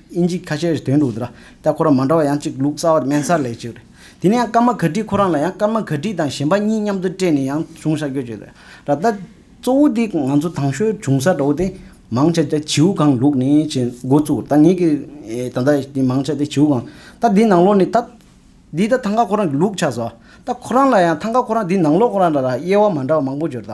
དབྱིན་ཇིས་ཁ་ཆེའི་དོན་འདུག་དེ་ལྟར་ཁོ་རང་མ་འདྲ་བ་ཡང་གཅིག་ལུགས་གསར་བ་དམན་སར་ལས་བྱེད་རེད། དེ་ནས་ཡང་སྐར་མ་ག་དྲིས་ཁོ་རང་ལ་ཡང་སྐར་མ་ག་དྲིས་དང་གཞན་པ་གཉིས་མཉམ་དུ་སྤྲད་ནས་ཡང་གཞུང་ཤར་སྐྱོད་བྱེད་རེད། ད་ལྟ་གཙོ་བོ་དེ་ང་ཚོ་ཐང་ཤོའི་གཞུང་ས་འདྲ་བོ་དེ་མང་ཆེ་དེ་བྱིའུ་ཁང་ལུགས་ནས་བྱེད་མགོ་བཙུགས་ད་ངེད་ཀྱི་ད་ལྟ་དེ་མང་ཆེ་དེ་བྱིའུ་ཁང་ད་དེ་ནང་ལོགས་ནས་ད་འདི་ད་ཐང་ག་ཁོ་རང་གི་ལུགས་ཆགས་སོ། ད་ཁོ་རང་ལ་ཡང་ཐང་ག་ཁོ་རང་དེ་ནང་ལོགས་ཁོ་རང་འདྲ་དང་དབྱེ་བ་མ་འདྲ་བ་མང་པོ་འབྱོར་ད།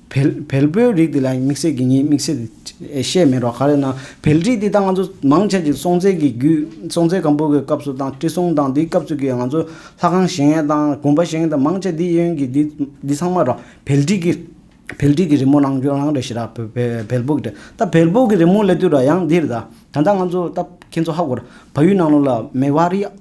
བལ་བལ་པོའི་རིགས་དེ་ལ་དམིགས་བསལ་གྱི་ཉེས་དམིགས་བཤད་བཤད་མེད་པ་ག་རེ་ན་བལ་རིགས་དེ་དང་ང་ཚོ་མང་ཆེ་གཅིག་སྲོང་བཙན་གྱི་རྒྱུད་སྲོང་བཙན་སྒམ་པོ་གི་སྐབས་སུ་དང་ཁྲི་སྲོང་དང་དེའི་སྐབས་སུ་གི་ང་ཚོ་ལྷ་ཁང་བཞེངས་ཡས་དང་དགོན་པ་བཞེངས་དང་མང་ཆེ་འདི་ཡོན་གྱི་འདི་འདི་ཚང་མ་ར་བལ་རིགས་ཀྱི་བལ་རིགས་ཀྱི་རི་མོ་རང་སྐྱོན་རང་རེད་ཤི་ར་བལ་བལ་བལ་པོ་གི་ད་བལ་པོ་གི་རི་མོ་ལས་དུས་ར་ཡང་འདིར་ད་ད་ནང་ང་ཚོ་ད་ཁྱེད་ཚོ་ཧ་གོ་ར་བ་ཡུལ་ནང་ལོགས་ལ་མེ་བ་རི་ཨ་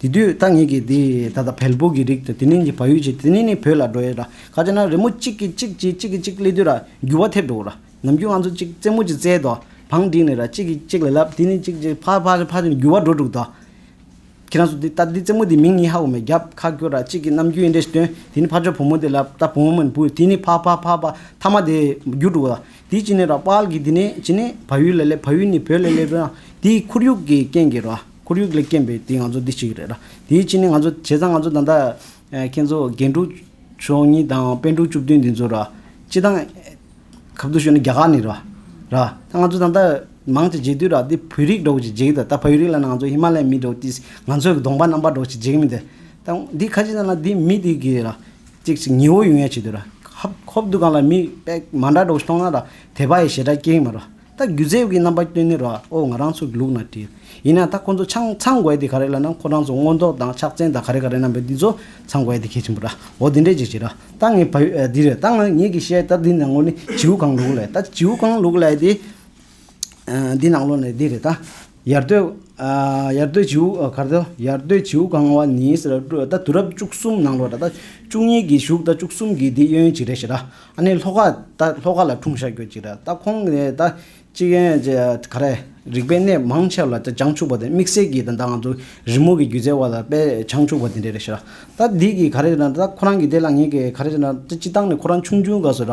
དེ་དུས་ཐ་སྙད་ཀྱི་དེ་ད་ལྟ་བལ་པོ་གི་རིགས་དང་དེ་མིན་གྱི་བ་ཡུལ་གྱི་དེ་གཉིས་ནི་བོད་ལ་འགྲོ་ཡས་ར་ག་ཅེ་ན་རི་མོ་གཅིག་གིས་གཅིག་གྱིས་གཅིག་གིས་གཅིག་གླེ་དུས་ར་འགྱུ་བ་ཐེབས་འགྲོ་ར་ནམ་རྒྱུན་ང་ཚོ་གཅིག་རྩེད་མོ་གཅིག་རྩེ་དོ་བང་བསྒྲིགས་ནས་ར་གཅིག་གིས་གཅིག་ལ་ལབ་དེ་ནི་གཅིག་གཅིག་ཕར་ཕར་ཕར་ཕར་འགྱུ་བ་འགྲོ་འདུག་དོ། ཁྱེད་རང་ཚོ་དེ་ལྟ་དེ་རྩེད་མོ་དེ་མིང་ཡི་ཧ་འོ་མས་རྒྱབ་ཁ་བསྐྱོར་ར་གཅིག་གིས་ནམ་རྒྱུན་ཡི་འདྲེ་ཞིག་བཏོན་དེ་ནི་ཕར་ཕྱོགས་བུ་མོ་དེ་ལབ་ད་བུ་མོ་མིན་བུ་དེ་ནི་ཕ་ཕ་ཕ་ཕ་ཐ་མ་དེ་འགྱུ་འགྲོ་ར་དེ་གཅིག་ནི་ར་དཔལ་གྱི་དེ་ནི་གཅིག་ནི་བ་ཡུལ་ལ་སླེབས་བ་ཡུལ་ནི་བོད་ལ་སླེབས་ར་དེའི་ཁོར་ཡུག་གི་རྐྱེན་གྱིས་ར། ཁོར་ཡུག་ལས་རྐྱེན་པས་དེ་ང་ཚོ་འདི་བྱེད་ཀྱི་རེད་ལ། དེའི་ཕྱི་ནས་ང་ཚོ་བྱས་ཙང་ང་ཚོ་ད་ལྟ། ཁྱེད་ཚོ་རྒན་དྲུག་མཆོག་གཉིས་དང་དཔོན་དྲུག་བཅུ་བདུན་འདི་ཚོ་ར། སྤྱི་བཏང། གབ་ཏུ་ཤོར་ནས་རྒྱ་གར་ནས་ར། ར། ད་ང་ཚོ་ད་ལྟ། མང་ཅིག་བརྗེད་དུས་ར་འདི་བོད་རིགས་འགྲོ་གི་བརྗེད་གི་ད་ད་བོད་རིགས་ལ་ན་ང་ཚོ་ཧི་མ་ལའི་མི་འགྲོ་དུས་ང་ཚོའི་གདོང་པ་རྣམ་པར་འགྲོ་ཅིག་བརྗེད་གི་མི་འདི། ད་འདི་ཁ་ཅིག་ན་ན་འདི་མི་འདི་གི་ར། ཅིག་ཅིག་ཉི་འོ་ཡུ་ཡན་བྱེད་དུས་ར། ཧབ་ཧོབ་འདུག་གང་ལ་མི་དཔེ་མང་དྲག་འགྲོ་གི་མཐོང་ན་ར། དད་པ་ཡི་ཞེ་དྲག་སྐྱེ་གི་མ་ར། ད་སྒྱུ་རྩལ་གྱི་རྣམ་པ་སྐྱོན་ནི་རོའོ་ང་རང་ཚོ་གི་ལུགས་ན་བྲིས། ཡིན་ན་ད་ཁོ་ཚོ་ཆང་ཚང་དགོས་དེ་ག་རེ་ལ་ནང་ཁོ་རང་ཚོ་སྔོ་མདོག་དང་ཕྱག་མཚན་དང་ག་རེ་ག་རེ་རྣམ་པས་འདི་ཚོ་ཚང་དགོས་དེ་གལ་ཆེན་པོ་ར་འོ་དེ་འདྲས་ཅིག་བྱེད་རོགས་ད་ངས་བ་འདི་རེད་ད་ང་ངེད་ཀྱི་བཤད་སྟབས་འདི་ནང་ལོ་ནི་བྱིའུ་གང་ལུག་ལས་ད་བྱིའུ་གང་ལུག་ལས་དེ་འདི་ནང་ལོ་ནི་འདི་རེད་ད་ཡར་སྟོད། ཡར་སྟོད་བྱིའུ། གར་སྟོད། ཡར་སྟོད་བྱིའུ་གང་བ་ནི། ད་དུས་རབས་བཅུ་གསུམ་ནང་ལོ་ར། ད་བཅུ་གཉིས་ཀྱི་བཞུགས་ད་བཅུ་གསུམ་གྱི་འདི་གཡོན་གྱི་རེད་ཞེ་ད། ཨ་ནི་ལྷོ་ཁ། ད་ལྷོ་ཁ་ལ་འཁྲུངས་ཤར་གྱོད་ཅིག་རེད་ད་ཁོང་གི་ད་གཅིག་གཡོན་གྱི་ག་རེ། རིག་པའི་གནས་མང་ཆེ་བ་ལ་ད་བྱང་ཆུབ་པ་དེ་དམིགས་བསལ་གྱིས་ད་ང་ཚོ་རི་མོ་གི་སྒྱུ་རྩལ་བ་ལ་དཔེ་བྱང་ཆུབ་པ་དེ་འདྲས་རེད་ཞེ་ད། ད་འདི་གི་ག་རེ་ཞེ་ན་ད་ཁོ་རང་གི་དེ་ལ་ངེས་ཀྱི་ག་རེ་ཞེ་ན་ད་སྤྱི་བཏང་ནས་ཁོ་རང་ཆུང་ཆུང་ག་སོ་ར།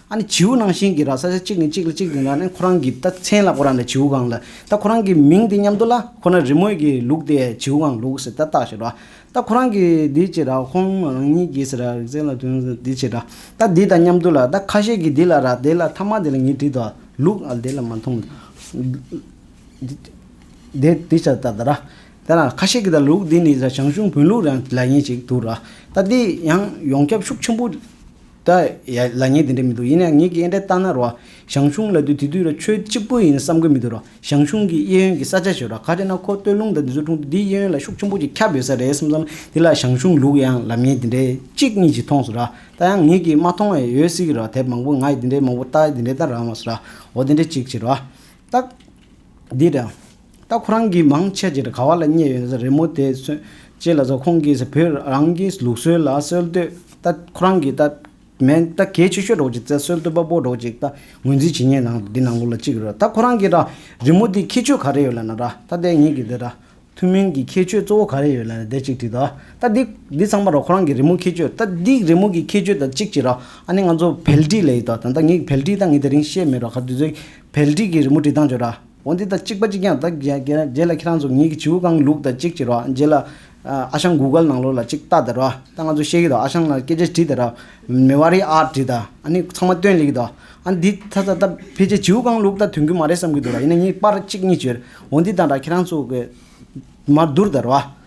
ཨ་ནི་བྱིའུ་ནང་བཞིན་གྱི་ར་ས་ཆ་གཅིག་ནས་གཅིག་ལ་གཅིག་དེ་འདྲ་ནི་ཁོ་རང་གིས་ད་མཚན་ལ་ཁོ་རང་ལ་བྱིའུ་སྒང་ལ་ད་ཁོ་རང་གིས་མིང་དེ་སྙམ་དུ་ལ་ཁོ་ན་རི་མོས་ཀྱི་ལུག་དེ་བྱིའུ་སྒང་ལུག་ཟེར་ད་ལྟ་ཞེས་ར་ད་ཁོ་རང་གིས་འདི་ཅེས་ར་ཧོམ་རང་ཉིད་ཀྱིས་ཟེར་ར་རིག་ཚན་ལ་དོན་ཟེར་འདི་ཅེས་ར་ད་འདི་ད་སྙམ་དུ་ལ་ད་ཁ་ཤས་ཀྱིས་འདི་ལ་ར་དེ་ལ་ཐ་མ་དེ་ལ་ཉིད་བྲིས་ད་ལུག་ཨ་དེ་ལ་མ་མཐོང་འདི་འདི་ཅེས་ད་ར་དེ་ལ་ཁ་ཤས་ཀྱིས་ད་ལུག་འདི་ནི་ར་ཞང་ཞུང་བོན་ལུག་ར་ལ་ཉེ་ཅིག་འདུག་ར་ད་འདི་ཡང་ཡོངས་ཁྱབ་ཤུགས་ཆེན་པོ། ད་ཡ་ལ་ངས་དེ་འདྲ་མི་འདུག་ཡིན་ན་ངེད་ཀྱིས་དབྱེ་འབྲས་བཏང་ན་རོ། ཞང་ཞུང་ལ་དུས་དེ་དུས་ལ་ཆོས་གཅིག་པོ་ཡིན་བསམ་གི་མི་འདུག་རོ། ཞང་ཞུང་གིས་གཡས་གཡོན་གྱི་ས་ཆ་བྱས་རོགས་ག་དེ་ན་ཁོ་སྟོད་ལུང་དང་འདི་ཟུར་གྲོང་དུ་འདིའི་གཡས་གཡོན་ལ་ཤུགས་ཆེན་པོ་ཅིག་ཁྱབ་ཡོད་ས་རེད་བསམ་བསམ་དེ་ལ་ཞང་ཞུང་ལུག་ཡང་ལབ་ངས་དེ་འདྲའི་གཅིག་གཉིས་ཅིག་མཐོངས་སོ་ར་ད་ཡང་ངེད་ཀྱིས་མ་མཐོང་བའི་ཡོད་སྲིད་གི་རོ་དེབ་མང་པོ་ངའི་དེ་འདྲའི་མང་པོ་ལྟ་དེ་འདྲའི་ལྟར་རང་བ་སོ་ར་འོ་དེ་འདྲའི་གཅིག་བྱེད་རོགས། ཏག། འདི་དྲ། ད་ཁོ་རང་གིས་མང་ཆེ་བྱས་ག་བ་ལ་བསྙད་ཡོད་ཟེར་རེད་མོ་དེ་སོན་ཅེས་ལ་ཟེར་ཁོང་གིས་བོད་རང་གི་ལུགས་སྲོལ་ལ་སྲོལ་བཏོད་ད་ཁོ་རང་གིས་ད་མན་ད་གལ་ཆེ་ཤོས་འགྲོགས་ཅིག་བཙལ་སྲོལ་བཏོད་པ་པོ་འགྲོགས་ཅིག་ད་ངོས་འཛིན་བྱེད་ཉེས་ནང་འདི་ནང་ལུགས་ལ་གཅིག་རེད་ད་ཁོ་རང་གིས་ར་རི་མོ་དེའི་ཁྱད་ཆོས་ག་རེ་ཡོད་ལ་ན་ར་ད་དེ་ངེད་ཀྱི་དེ་ར་ཐུན་མིན་གྱི་ཁྱད་ཆོས་གཙོ་བོ་ག་རེ་ཡོད་ལ་ན་དེ་གཅིག་བྲིས་ད་ད་འདི་ཚང་མ་ར་ཁོ་རང་གི་རི་མོ་ཁྱད་ཆོས་ད་འདི་རི་མོ་གི་ཁྱད་ཆོས་ད་གཅིག་བྱེད་ར་ཨ་ནི་ང་ཚོ་བལ་བྲིས་ལས་ཡོད་ད་ད་ངེད་ཀྱི་བལ་བྲིས་ད་ངེད་དེ་རིང་ཤེས་མེད་ར་ག་དུས་ཚོད་ཀྱི་བལ་བྲིས་ཀྱི་རི་མོ་བྲིས་སྟངས་བརྗོད་ར། འོ་འདི་ད་གཅིག་པ་གཅིག་ཀྱང་ད་རྒྱལ་རྒྱལ་ལ་ཁྱེད་རང་ཚོ་ངེད་ཀྱི་བྱེའུ་རྐང་ལུག་ད་གཅིག་བྱེད་རོགས་རྒྱལ་ལ། ཨ་ཞང་གུག་གལ་ནང་ལོགས་ལ་གཅིག་བལྟ་ད་རོགས་ད་ང་ཚོ་ཤེས་ཀྱི་འདུག་ཨ་ཞང་ལ་སྐད་ཆ་དྲིས་ད་རོགས་མེ་བ་རི་ཨར་དྲིས་ད་ཨ་ནི་ཚང་མ་སྟོན་ལེགས་ཀྱི་འདུག་ཨ་འདི་ད་ད་ད་ཕལ་ཆེར་བྱེའུ་རྐང་ལུག་ད་དོན་གྱི་མ་རེད་བསམ་གྱི་འདུག་ར་ཡིན་ན་ངེད་པར་གཅིག་གཉིས་བྱོས་འོ་འདི་ད་ར་ཁྱེད་རང་ཚོ་གི་མར་བསྡུར་ད་རོགས།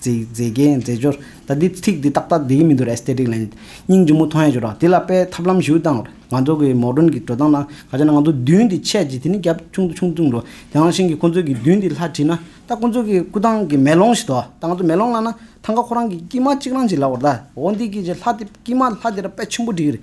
མཛེས་རྒྱན་མཛེས་སྦྱོར། ད་འདི་ཚིག་འདི་ཏག་ཏག་འདི་ཡིན་མི་འདུག་ར Aesthetic ལན། སྙིང་རྗེ་མོ་མཐོང་ཡ་ཞུ་རོགས་དེ་ལ་དཔེ་ཐབས་ལམ་ཞུ་དང། ང་ཚོ་གི་མོ་སྒྲོན་གྱི་འགྲོ་སྟངས་ན་ག་ཅེ་ན་ང་ཚོ་མདུན་དེ་ཆད་ཅིག་དེ་ནི་རྒྱབ་ཆུང་དུ་ཆུང་དུ་འགྲོ། དེ་ཡང་ཤིང་གི་ཁོ་ཚོའི་གི་མདུན་དེ་ལྷ་བྲིས་ན་ད་ཁོ་ཚོ་གི་སྐུ་ཐང་གི་མེ་ལོང་ཞིག་དོ། ད་ང་ཚོ་མེ་ལོང་བླངས་ན་ཐང་ག་ཁོ་རང་གི་སྐྱིད་མ་གཅིག་རང་ཞིག་ལ་འོར་ད་འོ་འདི་གི་ཅེ་ལྷ་དེ་སྐྱིད་མ་ལྷ་དེ་ར་དཔེ་ཆེན་པོ་བྲིས་གི་རེད།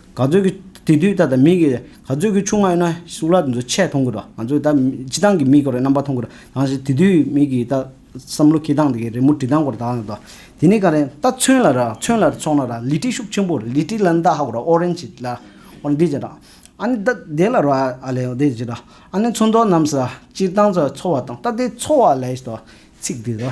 ག་ཚོད་ཀྱི་དེ་དུས་ད་ད་མིག་གིས་ག་ཚོད་ཀྱི་ཆུང་མ་ཡོད་ན་གསུག་ལག་འདི་ཚོ་ཆད་མཐོང་གི་རོ། ང་ཚོས་ད་སྤྱི་སྟངས་ཀྱི་མིག་གོ་རེ་རྣམ་པ་མཐོང་གི་རོ། དང་ཞིག་དེ་དུས་མིག་གིས་ད་བསམ་བློ་ཁེ་སྟངས་འདི་གི་རི་མོ་བྲི་སྟངས་གོ་རེ་དག་ནི་དོ། དེ་ནི་ག་རེ་ད་ཚོན་ལ་ར་ཚོན་ལ་རེ་ཚོགས་ན་ར་ལི་ཏི་ཤུགས་ཆེན་པོ་རེ་ལི་ཏི་ལ་ནི་ད་ཧ་གོ་ར་ཨོ་རེན་ཇི་ལ་ཨོ་འདི་ཅི་ར། ཨ་ནི་ད་དེ་ལ་རོ་ཨ་ཨ་ལེ་ཨོ་དེ་ཅི་ར། ཨ་ནི་ཚོན་མདོག་རྣམས་སུ་ར་སྤྱིར་བཏང་ཚོ་འཚོ་བ་དང་ད་དེ་འཚོ་བ་ལས་ཏོ་ཚིག་འདི་རོ།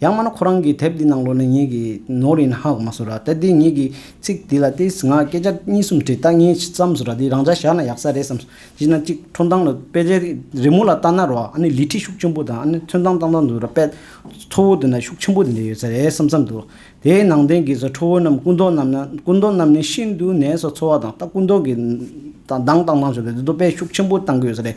ཡང་མ་ན་ཁོ་རང་གི་དེབ་འདི་ནང་ལོ་ན་ཉིད་ཀྱི་ནོར་ཡིན་ཧ་གོ་མ་སུ་ར་ད་འདི་ཉིད་ཀྱི་ཚིག་འདི་ལ་ཏི་སི་ང་སྐད་ཆ་གཉིས་གསུམ་བྲིས་ད་ངས་ཅི་བསམ་སུ་ར་འདི་རང་འཇགས་བཞག་ན་ཡག་ས་རེད་བསམ་སོང་གཞི་ན་གཅིག་ཁྲོ་མདངས་ལ་དཔེ་ཆ་རི་མོ་ལ་ལྟ་ན་རོ་ཨ་ནི་ལི་ཁྲི་ཤུགས་ཆེན་པོ་དང་ཨ་ནི་ཚོན་མདངས་ལྟ་ན་འདུག་ར་དཔེ་མཚོ་བོ་འདི་ན་ཤུགས་ཆེན་པོ་འདི་འདྲ་ཡོད་ས་རེད་བསམ་བསམ་འདུག་དེའི་ནང་དོན་གྱི་ས་ཁྲོ་བོ་རྣམས་སྐུ་མདོག་རྣམས་ན་སྐུ་མདོག་རྣམས་ནི་ཤིན་ཏུ་ནས་ས་འཚོ་བ་དང་ལྟ་སྐུ་མདོག་གི་མདངས་བཏང་བཏང་བྱུང་ད་འདི་ཚོ་དཔེ་ཤུགས་ཆེན་པོ་བཏང་གི་ཡོད་ས་རེད།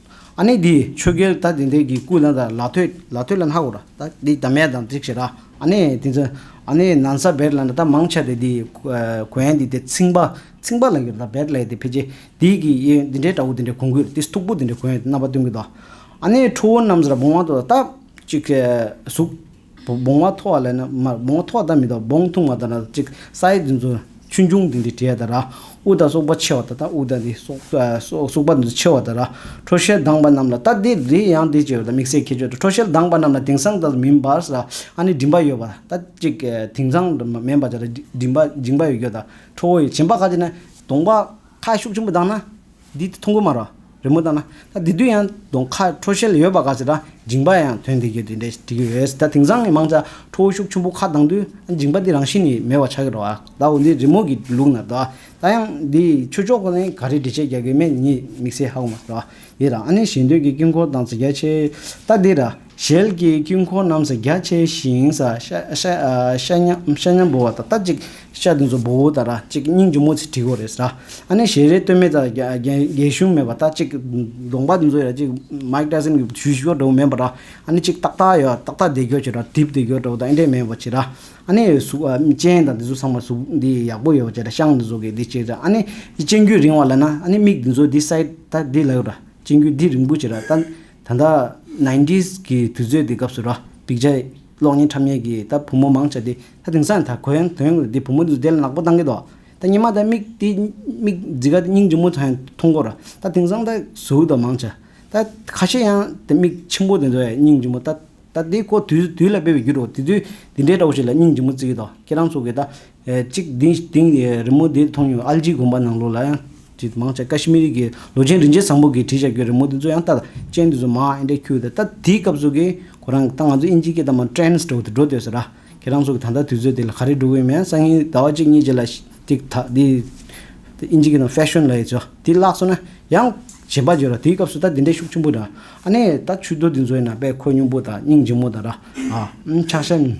ཨ་ནི་དེས་ཆོས་རྒྱལ་ད་དེ་འདྲས་ཀྱི་སྐུ་ལ་དང་ལ་ཐོད་ལ་ཐོད་ལ་ནག་གོ་ར་ད་དེ་ད་མས་དང་ཙིག་བྱེད་ར་ཨ་ནི་དེ་ཚོས་ཨ་ནི་ན་ས་བེར་ལ་ན་ད་མང་ཆ་དེ་དེ་གོ་ཡན་དེ་དེ་ཚིང་པ་ཚིང་པ་ལ་གྱུར་ད་བེར་ལས་དེ་ཕལ་ཆེ་དེ་གི་ཡེ་དེ་འདྲས་དྲ་བོ་དེ་འདྲས་གོང་གུད་དེ་སྟུག་པོ་དེ་འདྲས་གོ་ཡན་དེ་ན་པ་སྟུན་གུད་ད་ཨ་ནི་ཁྲོ་བོ་རྣམས་ཟ་ར་བུང་བ་དོ་ད་ཅིག་གཟུགས། བོང་བ་ཐོ་བ་ལས་ནི་མར་བོང་བ་ཐོ་བ་དང་མི་དང་བོང་ཐུང་བ་དང་ར་ཅིག་ས་ཡི་དེ་ཚོ་ཆུ་འབྱུང་དེ་འདི་བྲལ་དང་ར་དབུགས་དང་སོགས་པ་ཆེ་བ་དང་དང་དབུགས་དང་འདི་སོགས་པ་འདི་ཚོ་ཆེ་བ་དང་ར་ཁྲོ་ཞལ་གདངས་པ་རྣམས་ལ་ལྟ་སྟེ་རི་ཡང་འདི་ཅེས་པ་དང་དམིགས་བསལ་ཁྱད་ཆོས་དང་ཁྲོ་ཞལ་གདངས་པ་རྣམས་ལ་དེང་སང་དང་མིན་པར་ས་ཨ་ནི་མགྲིན་པ་ཡོད་པ་ལྟ་ཅིག་དེང་སང་དང་མིན་པར་ས་ཨ་ནི་མགྲིན་པ་ཡོད་ཀྱི་དང་ཁྲོ་བོ་ཡོད་ཅེས་བྱིན་པ་ཁ་ཅིག་ནི་དུང་བ་ཁ་ཤུགས་ཆེན་པོ་གདངས་ན། འདི་ཐུང་གོ་མ་རོ། རི་མོ་ལྟ་ན། ད་དེ་དུས་ཡང་གདོང་ཁ་ཁྲོ་ཤལ་ཡོད་པ་ག་ཚོད་ད་འགྱིང་པ་ཡང་དོན་དེ་གྱོད་དེ་འདྲས་འགྲིག་གི་ཡོད་ད་དེང་སང་གི་མང་ཆ་ཁྲོ་ཤུགས་ཆུན་པོ་ཁ་གདང་དུས་ད་འགྱིང་པ་འདི་རང་བཞིན་ནི་མེད་བ་ཆགས་ཀྱི་རོ་ཨ་ད་འོ་འདི་རི་མོ་གི་ལུགས་ན་ད་ད་ཡང་འདི་ཆོས་ཕྱོགས་ཀྱི་ག་རེ་འབྲི་བྱེད་རྒྱ་གོས་མེད་ཉིད་དམིགས་བསལ་ཧ་གོ་མ་རོ་ཨ་འདི་ར་ཨ་ནི་ཞེ་འདོད་ཀྱི་དཀྱིལ་འཁོར་དང་ཚིག་རྒྱ་ཆེ་ད་འདི་ར། ཞལ་གྱི་དཀྱིལ་འཁོར་རྣམས་སུ་རྒྱ་ཆེ་ཞིང་ཤ་མཉམ་བོ་བ་དང་རྟ་གཅིག་ཤ་དེ་ཚོ་བོའུ་དང་ར་གཅིག་སྙིང་རྗེ་མོ་ཚེ་བྲིས་གོ་རེས་ར་ཨ་ནེ་ཞལ་རས་སྟོད་སྨད་ཙམ་རྒྱན་གཞུང་མེད་པ་རྟ་གཅིག་གདོང་པ་དེ་ཚོ་ར་གཅིག་མཱིཀ་ཏཱ་སིམ་གྱི་བྱུས་ཤོར་འདྲ་བོ་མེད་པ་ར་ཨ་ནེ་གཅིག་ཏག་ཏག་ཡོད་ཏག་ཏག་བདེ་འགྱོ་བྱེད་ར་དིབ་བདེ་འགྱོ་འདྲ་བོ་དང་ཨེ་འདྲས་མེད་བོ་བྱེད་ར་ཨ་ནེ་གཟུགས་ཅན་དང་དེ་ཚོ་ཚང་མ་གཟུགས་འདི་ཡག་པོ་ཡོད་བོ་བྱེད་ར་ཤངས་དེ་ཚོ་གི་འདི་བྱེད་ར་ཨ་ནེ་སྤྱན་དཀྱུས་རིང་བ་ལ་ན་ཨ་ནེ་མིག་དེ་ཚོ་འདི་སའི་ད་འདི་ལ་ཡོད་ར་སྤྱན་དཀྱུས་འདི་རིང་པོ་བྱེད་ར་ད། ད་ལྟ Nineties གྱི་དུས་ཚོད་དེ་སྐབས་སུ་ར་འབིག་བྱ། གློག་བརྙན་འཁྲབ་ཉེས་ཀྱིས་ད་བུ་མོ་མང་བྱ་སྟེ་ད་དེང་སང་ད་གོན་དོན་གོ་དེ་བུ་མོ་ལུས་རྡེལ་ནག་པོ་བཏང་གི་འདུག་ད་ཉི་མ་ད་མིག་དེ་མིག་ཛི་ག་དེ་སྙིང་འཇུག་མོ་ད་མཐོང་གོ་ར་ད་དེང་སང་ད་ཟུག་ད་མང་བྱ། ད་ཁ་ཤས་ཡང་དེ་མིག་ཆེན་པོ་དེ་ཚོ་ཡང་སྙིང་འཇུག་མོ་ད་ད་དེ་ཀོ་དུས་དུས་ལ་སྤེལ་བའི་རྒྱུ་རུ་དེ་དུས་དེ་འདྲའི་དགྲ་བོ་ཞིག་ལ་སྙིང་འཇུག་མོ་བརྩི་གི་འདུག་ཁྱེད་རང་ཚོ་གིས་ད་གཅིག་བདུན་སྟེང་གི་རི་མོ་དེ་མཐོང་མྱོང། ཨལ་ལྗི་དགོན་པ་ནང་ལོགས་ལ་ཡང་ཇེ་མང་ཆེ། ཀ་ཤི་མི་རིགས་ཀྱི་ལོ་ཆེན་རིན་ཆེན་བཟང་པོ་གིས་བྲིས་བཞག་རྒྱུའི་རི་མོ་དེ་ཚོ་ཡང་ལྟ། ཅན་དེ་ཚོ་མ་ཨེ་འདྲས་ཁྱོད་ད་ལྟ་དེའི་སྐབས་སུ་གི་གོ་རང་གི་ད་ང་ཚོ་ཨིན་ཇིའི་སྐད་དང་མ Trans འགྲོ་འགྲོ་འདོད་ཟེར་ར། ཁྱེད་རང་ཚོ་གི་ད་ལྟ་དུས་ཚོད་དེ་ལ་ག་རེ་འགྲོ་གི་ཡོད་མེད་སང་ཉིན་ཟླ་བ་གཅིག་གཉིས་རྗེས་ལ་ཅིག་ད་དེ་ཨིན་ཇི་སྐད་དང Fashion ལ་ཡི་ཆོ་དེ་བརླགས་སོང་ན་ཡང་ཇེ་འབའ་འཇོ་ར་དེའི་སྐབས་སུ་ད་དེ་འདྲའི་ཤུགས་ཆེན་པོ་ར་ཨ་ནེ་ད་ཆུ་རྡོ་དེ་ཚོའི་ན་པའི་ཁོད་སྙུང་པོ་ད་སྙིང་རྗེ་མོ་ད་ར་ཨ་ཨམ་ཆག་ཤ།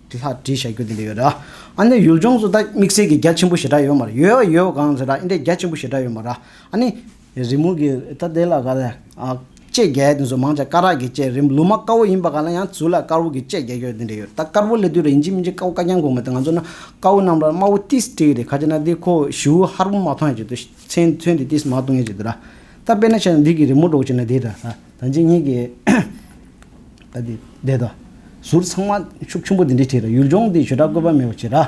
དེ་ལྷག་བྲིས་བཞག་རྒྱུ་དེ་འདྲ་ཡོད་ར། ཨ་ནི་ཡུལ་ལྗོངས་སུ་ད་དམིགས་བསལ་གྱི་རྒྱ་ཆེན་པོ་ཞེ་དྲག་ཡོད་མ་ར། ཡོད་ཡ་ཡོད་གང་ཟེར་ར་ཨིན་དྲ་རྒྱ་ཆེན་པོ་ཞེ་དྲག་ཡོད་མ་ར། ཨ་ནི། རི་མོ་གི་ད་དེ་ལ་ག་ལ། བཅད་རྒྱ་ཡ་དེ་ཚོ་མང་ཆ་སྐ་རགས་ཀྱི་བཅད་རིམ་ལུ་མ་དཀར་བོ་ཡིན་པ་ག་ལ་ཡང་ཚུལ་ལ་དཀར་བོ་གི་བཅད་རྒྱ་ཞོ་དེ་འདྲ་ཡོད་ད་དཀར་བོ་ལས་དུས་ར་ཡིན་གཅིག་མིན་གཅིག་དཀར་བོ་དཀར་རྐྱང་གོང་མ་དེ་ང་ཚོ་ན་དཀར་བོ་རྣམས་ར་དམར་བོ་ཏིས་སྤྲས་རེད་ཁ་ཆེ་ན་དེ་ཁོ་བཞིའུ་ཧར་བོ་མ་མཐོང་ཡ་བྱེད་དུ་ཚན་ཚོན་དེ་ཏིས་མ་གཏོང་ཡ་བྱེད་དུ་ར། ད་དཔེ་ན་ཆ་ན་འདི་གི་རི་མོ་སྒྲོག་བྱེད་ན་དེ་འདྲ་ར། ད་འཇིག་ཉེས་ཀྱི། ཨ་དེ་བསྡད་དོ། ཟུར་ཚང་མ་ཤུགས་ཆུང་པོ་དེ་འདྲའི་ཁྲིད་ར་ཡུལ་ལྗོངས་འདི་ཞོད་དྲག་བཀོད་པ་མེད་པ་བྱེད་ར།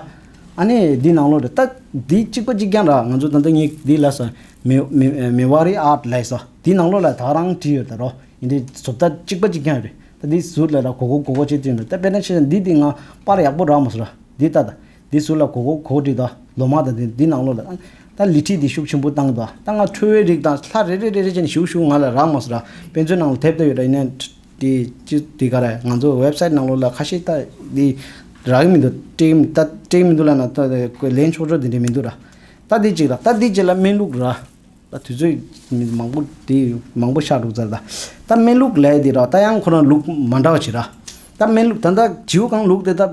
ཨ་ནེ་འདི་ནང་ལོག་རེད་ལྟ་འདི་གཅིག་པ་གཅིག་རྐྱང་ར་ང་ཚོ་ད་ལྟ་སྙིགས་དེ་ལས་སོ། མི་བ་རི་ཨར་ལས་སོ་དེ་ནང་ལོག་ལ་དྭགས་རང་བྲིས་ཡོད་ད་རོ་ཡིན་དེ་ཟུར་ལྟ་གཅིག་པ་གཅིག་རྐྱང་རེད་ལྟ་འདི་ཟུར་ལས་ར་གོ་གོ་གོ་གོ་བྱེད་དུས་ན་ལྟ་དཔེ་ན་ཆེ་ས་འདི་དེ་ང་པར་ཡག་པོ་རག་མ་སོ་ར་འདི་ལྟ་ད། འདི་ཟུར་ལ་གོ་གོ་གོ་བྲིས་དང་ལོ་མང་དང་འདི་ནང་ལོ་ལ་ཨང། ད་ལི་ཁྲིད་འདི་ཤུགས་ཆེན་པོ་བཏང་དང་ད་ང་ཁྲོ་བོའི་རིགས་དང་ལྷ་རེ་རེ་རེ་རེ་བྱས་ནས་ཞུགས་ཞུགས་ང་ལ་རག་མ་ཟེར། དཔེ་མཛོད་ནང་ལ་དེབ་ལྟ་ཡོད་ར་ཡིན་ན། དེ་ཅི་དེ་ག་རེད་ང་ཚོ་ཝེབ་སཱིད་ནང་ལོ་ལ་ཁ་ཤས་ལྟ་དེ་རག་གི་མི་འདུག་སྤྲད་མི་སྤྲད་མི་འདུག་ལ་ན་ལན་ཆོག་ཆོག་དེ་འདྲས་མི་འདུག་ར། ལྟ་དེ་གཅིག་ར་ལྟ་དེ་གཅིག་ལ་སྨན་ལུགས་ར། ད་དུས་ཚོད་མི་མང་པོ་དེ་མང་པོ་ཤག་འགྲོ་ཚར་ད། ད་སྨན་ལུགས་ལས་དེ་ར་ད་ཡང་ཁོ་རང་ལུགས་མ་འདྲ་བ་བྱེད་ར། ད་སྨན་ལུགས་ད་ད་བྱིའུ་གང་ལུགས་དེ་ད་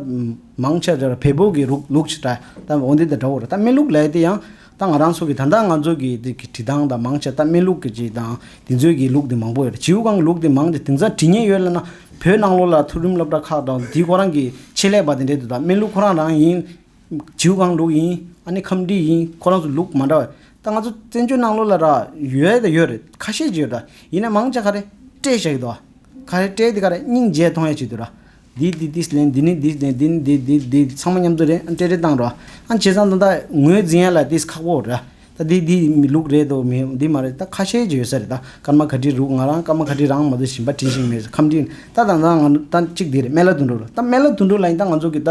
མང་ཆེ་བྱེད་ར་བལ་པོ་གི་རུགས་ལུགས་བྱེད་ར་ད་འོ་འདི་དང་འདྲ་བོ་ར་ད་སྨན་ལུགས་ལས་དེ་ཡང་ད་ང་རང་ཚོ་གི་ད་ད་ང་ཚོ་གི་དེ་གི་དྲི་དང་ད་མང་ཆེ་ད་སྨན་ལུགས་གི་དྲི་དང་དེ་ཚོའི་གི་ལུགས་དེ་མང་པོ་ཡོད་ར་བྱིའུ་གང་ལུགས་དེ་མང་ཆེ་དེང་སང་དྲི་ཉེན་ཡོད་ལ་ན་བོད་ནང་ལོགས་ལ་ཐུགས་རིམ་སློབ་གྲྭ་ཁག་དང་དེ་ཁོ་རང་གི་ཆེད་ལས་པ་དེ་འདྲས་དུ་ད་སྨན་ལུགས་ཁོ་རང་རང་ཡིན། བྱིའུ་གང་ལུགས་ཡིན་ཨ་ནི་ཁམས་འདྲིས་ཡིན་ཁོ་རང་ཚོ་ལུགས་མ་འདྲ་བ་ད་ང་ཚོ་བཙན་བྱོལ་ནང་ལོགས་ལ་རག་ཡོད་དང་ཡོད་རེད་ཁ་ཤས་ཀྱི་ཡོད་རེད་ཡིན་ན་མང་ཆ་ག་རེ་སྤྲད་ཤག་ཡོད་རེད་ཁ་རེ་སྤྲད་དེ་ག་རེ་སྙིང་རྗེ་མཐོང་ཡ་བྱེད་རེད་འདིས་འདི་འདི་ལེན་འདི་ནི་འདི་ལེན་འདི་ནི་འདི་འདི་འདི་ཚང་མ་མཉམ་འཛོམས་རེད་སྤྲད་རེ་བཏང་རོགས་ཨ་བྱས་ཙང་ད་ད་ངོས་འཛིན་ཡ་ལ་དེ་ཁག་པོ་རེད་ད་འདི་འདི་མི་ལུགས་རེད་དོ་མི་འདི་མ་རེད་ད་ཁ་ཤས་ཀྱི་ཡོད་ས་རེད་ད་སྐར་མ་ག་དྲི་རུག་ང་རང་སྐར་མ་ག་དྲི་རང་མ་ཏོ་བཞིན་པ་དྲི་ཞིག་མེད་ཁམས་འདྲིས་ད་ད་ད་ང་ད་གཅིག་འདི་རེད་སྨན་བླ་དུད་འགྲོ་རུ་ད་སྨན་བླ་དུད་འགྲོ་ལ་ཡིན་ད་ང་ཚོ་གི་ད་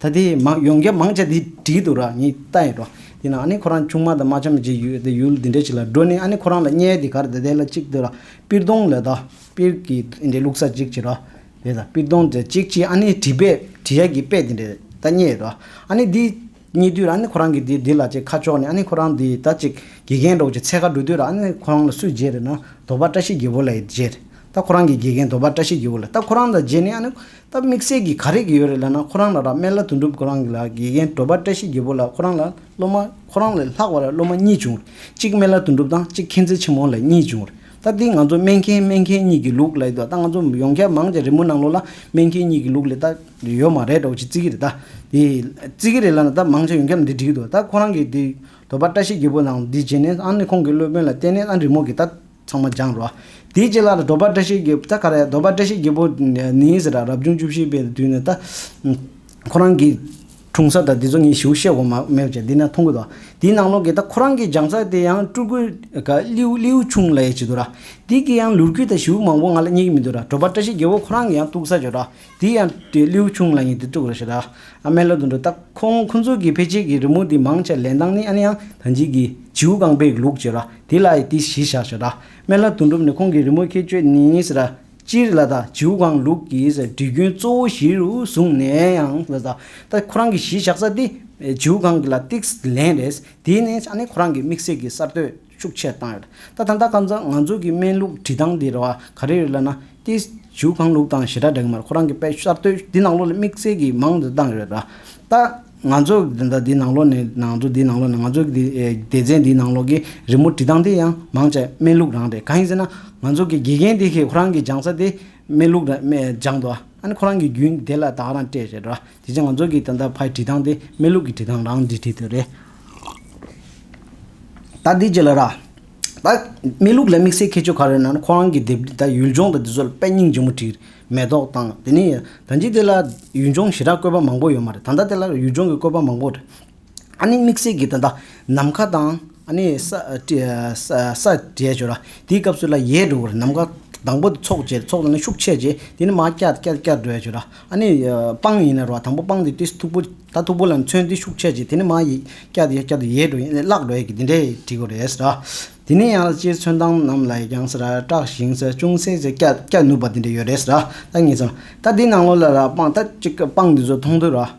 ད་དེ་མང་ཡོང་རྒྱ་མང་ཆ་དེ་བྲིས་འདུག་ར་ངས་ལྟ་ཡིན་རོགས་དེ་ན་ཨ་ནེ་ཁོ་རང་ཆུང་མ་དང་མ་ཆ་མེད་ཅིག་ཡོད་དེ་ཡུལ་འདི་འདྲ་ཞིག་ལ་འགྲོ་ནས་ཨ་ནེ་ཁོ་རང་ལ་བརྙས་དེ་གར་དེ་དེ་ལ་གཅིག་དེ་ར་པིར་སྡོང་ལས་ད་པིར་གྱི་དེ་འདྲའི་ལུག་ས་གཅིག་བྱེད་ར་དེ་ད་པིར་སྡོང་དེ་གཅིག་བྱེད་ཨ་ནེ་བྲིས་པས་བྲིས་ཡ་གི་དཔེ་དེ་འདྲའི་ད་བརྙས་ར་ཨ་ནེ་དེ་བརྙས་དུས་ར་ཨ་ནེ་ཁོ་རང་གི་དེ་དེ་ལ་ཅིག་ཁ་ཕྱོགས་ནས་ཨ་ནེ་ཁོ་རང་དེ་ད་ཅིག་དགེ་རྒན་གྲོགས་ཀྱི་ཚལ་ཁ་འགྲོ་དུས་ར་ཨ་ནེ་ཁོ་རང་ལ་སུས་མཇལ་རེད་ན་དོ་པ་བཀྲ་ཤིས་རྒྱལ་པོ་ལ་ཡིས་མཇལ་རེད་ད་ཁོ་རང་གི་དགེ་རྒན་དོ་པ་བཀྲ་ཤིས་རྒྱལ་པོ་ལ་ད་ཁོ་རང་ལ་མཇལ་ནས་ཨ་ནེ་ད་དམིགས་བསལ་གྱི་ག་རེ་གི་ཡོད་རེད་ལབ་ན་ཁོ་རང་ལ་རག་སྨད་ལ་དོན་འགྲུབ་ཁོ་རང་གི་ལ་དགེ་རྒན་བྲོ་པ་བཀྲ་ཤིས་རྒྱལ་པོ་ལ་ཁོ་རང་ལ་སློབ་མ་ཁོ་རང་ལས་ལྷག་བ་ལ་སློབ་མ་གཉིས་བྱུང་རེད་གཅིག་སྨད་ལ་དོན་འགྲུབ་དང་གཅིག་མཁྱེན་བརྩེ་ཆེན་མོ་ལ་གཉིས་བྱུང་རེད་ད་འདི་ང་ཚོ་སྨད་མཁྱེན་སྨད་མཁྱེན་གཉིས་ཀྱི་ལུགས་ལ་ཡོད་ད་ང་ཚོ་ཡོངས་ཁྱབ་མང་ཆེ་རི་མོ་ནང་ལོགས་ལ་སྨད་མཁྱེན་གཉིས་ཀྱི་ལུགས་ལས་ད་ཡོད་མ་རེད་འདྲ་བོ་ཅིག་བརྩི་གི་རེད་ད་དེ་བརྩི་གི་རེད་ལབ་ན་ད་མང་ཆེ་ཡོངས་ཁྱབ་འདི་འགྲིག་གི་འདུག་ད་ཁོ་རང་གི་འདི་བྲོ་པ་བཀྲ་ཤིས་རྒྱལ་པོ་ནང་འདི་བྱས་ནས་ཨང་ནི་ཁོང་གི་སློབ་དཔོན་ལ་བསྟན་ནས་ཨང་རི་མོ་གི་ད། ཚང་མ་སྦྱངས་རོགས། དེའི་རྗེས་ལ་རྡོ་སྦག་བཀྲ་ཤིས་རྒྱལ་པོ་ད་ག་རེད་རྡོ་སྦག་བཀྲ་ཤིས་རྒྱལ་པོ་ནི་ཟེར་ར་རབ་བྱུང་བཅུ་བཞི་པའི་དུས་ནས་ད། ཁོ་རང་གི། འཁྲུངས་ས་དང་འདི་ཚོ་ངས་ཞུ་བཤད་གོ་མ་མེད་བྱས་འདི་ན་མཐོང་གི་འདུག་དེའི་ནང་ལོག་གི་ད་ཁོ་རང་གི་སྦྱངས་ས་དེ་ཡང་སྤྲུལ་སྐུ། གླིའུ་གླིའུ་ཆུང་ལ་ཡ་བྱེད་འདུག་ར། དེ་གི་ཡང་ལུར་གུ་དང་བྱིའུ་མང་པོ་ང་ལ་རྙེད་ཀྱི་མི་འདུག་ར་གྲོ་སྦག་བཀྲ་ཤིས་རྒྱལ་པོ་ཁོ་རང་གི་ཡང་སྟུག་ས་བྱོས་ར་དེ་ཡང་དུས་ལིའུ་ཆུང་ལ་ཡིན་དུས་དྲུག་རེ་བྱས་དཱ་ཨ་མའི་སློབ་ཏུ་འགྲོ་སྟབས་ཁོང་ཁོ་ཚོའི་གི་ཕལ་ཆེར་གི་རི་མོ་དེ་མང་ཆེ་ལེན་སྟངས་ནི་ཨ་ནེ་ཡང་ཐང་ཅིག་གི་བྱིའུ་རྐང་པའི་ལུགས་བྱས་ར་དེ་ལ་ཡི་དེ་གཞི་བཞག་བྱས་དཱ་སྨན་བླ་དོན་གྲུབ་ནས་ཁོང་གི་རི་མོ་ཁྱད་ཆོས་ནི་ཟེར་ར་སྤྱིར་ལ་དང་བྱིའུ་རྐང་ལུགས་ཀྱི་འབྲི་རྒྱུན་གཙོ་བོ་གཞི་རུ་བཟུང་ནས་ཡང་ཟེར་དཱ་ད་ཁོ་རང་གི་གཞི་བཞག་ས་དེ་བྱིའུ་རྐང་གི་ལ་ཏིགས་ལེན་རེད་དེ་ནི་ཨ་ནེ་ཁོ་རང་གི་དམིགས་བསལ་གི་གསར་གཏོད། ཤུགས་ཆེར་བཏང་ཡོད། ད་ཐ་མཐའ་ཁ་མཚར་ང་ཚོ་གི་སྨན་ལུགས་བྲིས་སྟངས་འདི་རེ་བ་ག་རེ་རེད་ལབ་ན། ཏེ། བྱིའུ་གང་ལུགས་དང་ཞེ་དྲག་འབྲེལ་གི་མ་རེད་ཁོ་རང་གི་དཔེ་གསར་གཏོད་འདི་ནང་ལོགས་ལ་དམིགས་བསལ་གྱིས་མང་དུ་བཏང་ཡོད། ད། ང་ཚོ་གི་དེ་འདྲ་འདི་ནང་ལོགས་ནས་ནང་ཚོ་འདི་ནང་ལོགས་ནས་ང་ཚོ་གི་སྡེ་ཚན་འདི་ནང་ལོགས་ཀྱི་རི་མོ་བྲིས་སྟངས་དེ་ཡང་མང་ཆེ་སྨན་ལུགས་རང་རེད་གང་ཡིན་ཟེར་ན། ང་ཚོ་གི་དགེ་རྒན་དེ་ཁོ་རང་གི་སྦྱངས་ས་དེ་སྨན་ལུགས་ར་སྦྱངས་འདུག་ཨ་ནི་ཁོ་རང་གི་རྒྱུན་དེ་ལ་དག་རང་སྤྲད་ཞེ་དྲག། དེ་ཅི་ང་ཚོ་གི་ད་ལྟ་ཕའི་བྲིས་ཐང་དེ་མེ་ལུག་གི་བྲིས་ཐང་རང་འདྲི་བྲིས་དེ་རེད། ད་འདི་ཅི་ལ་རག། ད་མེ་ལུག་ལ་དམིགས་བསལ་ཁྱད་ཆོས་ག་རེ་ན་ནི་ཁོ་རང་གི་དེབ་འདི་ད་ཡུལ་ལྗོངས་དང་དེ་ཚོ་ལ་དཔེ་རྙིང་ལྗིད་མོ་བྲིས། མེ་ཏོག་དང་དེ་ནས་ད་འཇིག་དེ་ལ་ཡུལ་ལྗོངས་ཞི་དྲག་བཀོད་པ་མང་པོ་ཡོད་མ་རེད་ད་ལྟ་དེ་ལ་ཡུལ་ལྗོངས་ཀྱི་བཀོད་པ་མང་པོ་རེད། ཨ་ནི་དམིགས་བསལ་གྱི་དོན་དག་ནམ་མཁའ་དང། ཨ་ནི་ས། ས། དྲས་བྱོས་ལ་དེའི་སྐབས་སུ་ལ་ཡའི་འགྲོ་བར་ནམ་མཁའ་དང་པོ་ཚོགས་བྱེད་ཚོགས་དང་ནི་ཤུགས་ཆད་བྱེད་དེ་ནི་མ་སྐྱ་སྐྱ་སྐྱ་སྐྱ་སྒྲོས་བྱོས་ལ་ཨ་ནི་སྤང་ཡིན་ན་རོ་དང་པོ་སྤང་དེ་དུས་སུ་ཐུག་པོ་ད་ཐུག་པོ་ལ་ནི་མཚོན་དེ་ཤུགས་ཆད་བྱེད་དེ་ནི་མ་ཡི་སྐྱ་དེ་སྐྱ་དུ་ཡའི་འགྲོ་ཡིན་ནི་གླག་འགྲོ་ཡི་གི་འདི་འདྲས་བྲིས་དགོས་རེད་ཟེར་དེ་ནས་ཡང་ལ་སྤྱིར་མཚོན་སྟངས་རྣམས་ལ་ཡི་རྐྱང་ཟེར་སྐྲག་ཞིང་ཟེར་ཅུང་ཟད་ཟེར་སྐྱ་སྐྱ་ནུབ་པ་འདི་འདྲས་ཡོད་རེད་ཟེར་ད་ངེས་ཚོད་ད་འདི་ནང་ལོ་ལ་ར་སྤང་ད་གཅིག་སྤང་འདི་ཚོ་མཐོང་དུས་ར།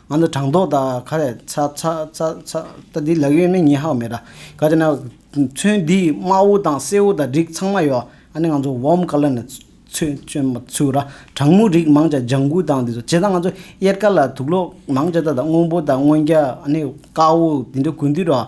ང་ཚོ་དྲང་ལྡོག་དང་ཁ་རས་ཚ་ཚ་ཚ་ཚ་ད་འདི་ལག་གཡོན་མེད་ཉིན་ཧྭོ་མེད་གྲྭ་ག་དེ་ན་ཚུན་འདིས་དམག་དབུ་དང་སྲས་དབུ་དང་སྒྲིག་ཚང་མ་ཡོད་ཨ་ནི་ང་ཚོ་བོམ་ཀ་ལ་ནས་ཚུན་བྱོན་མ་ཚུར་ར་དྲང་མོ་རིགས་མང་ཅག་ལྗང་གུ་དང་འདི་ཚོ་བྱས་ཙང་ང་ཚོ་གཡེར་ཀ་ལ་དུག་ལོག་མང་ཅག་ད་ད་སྔོན་པོ་དང་སྔོན་རྒྱ་ཨ་ནི་དཀར་བོ་འདི་འདྲ་གུས་འདུད་ར།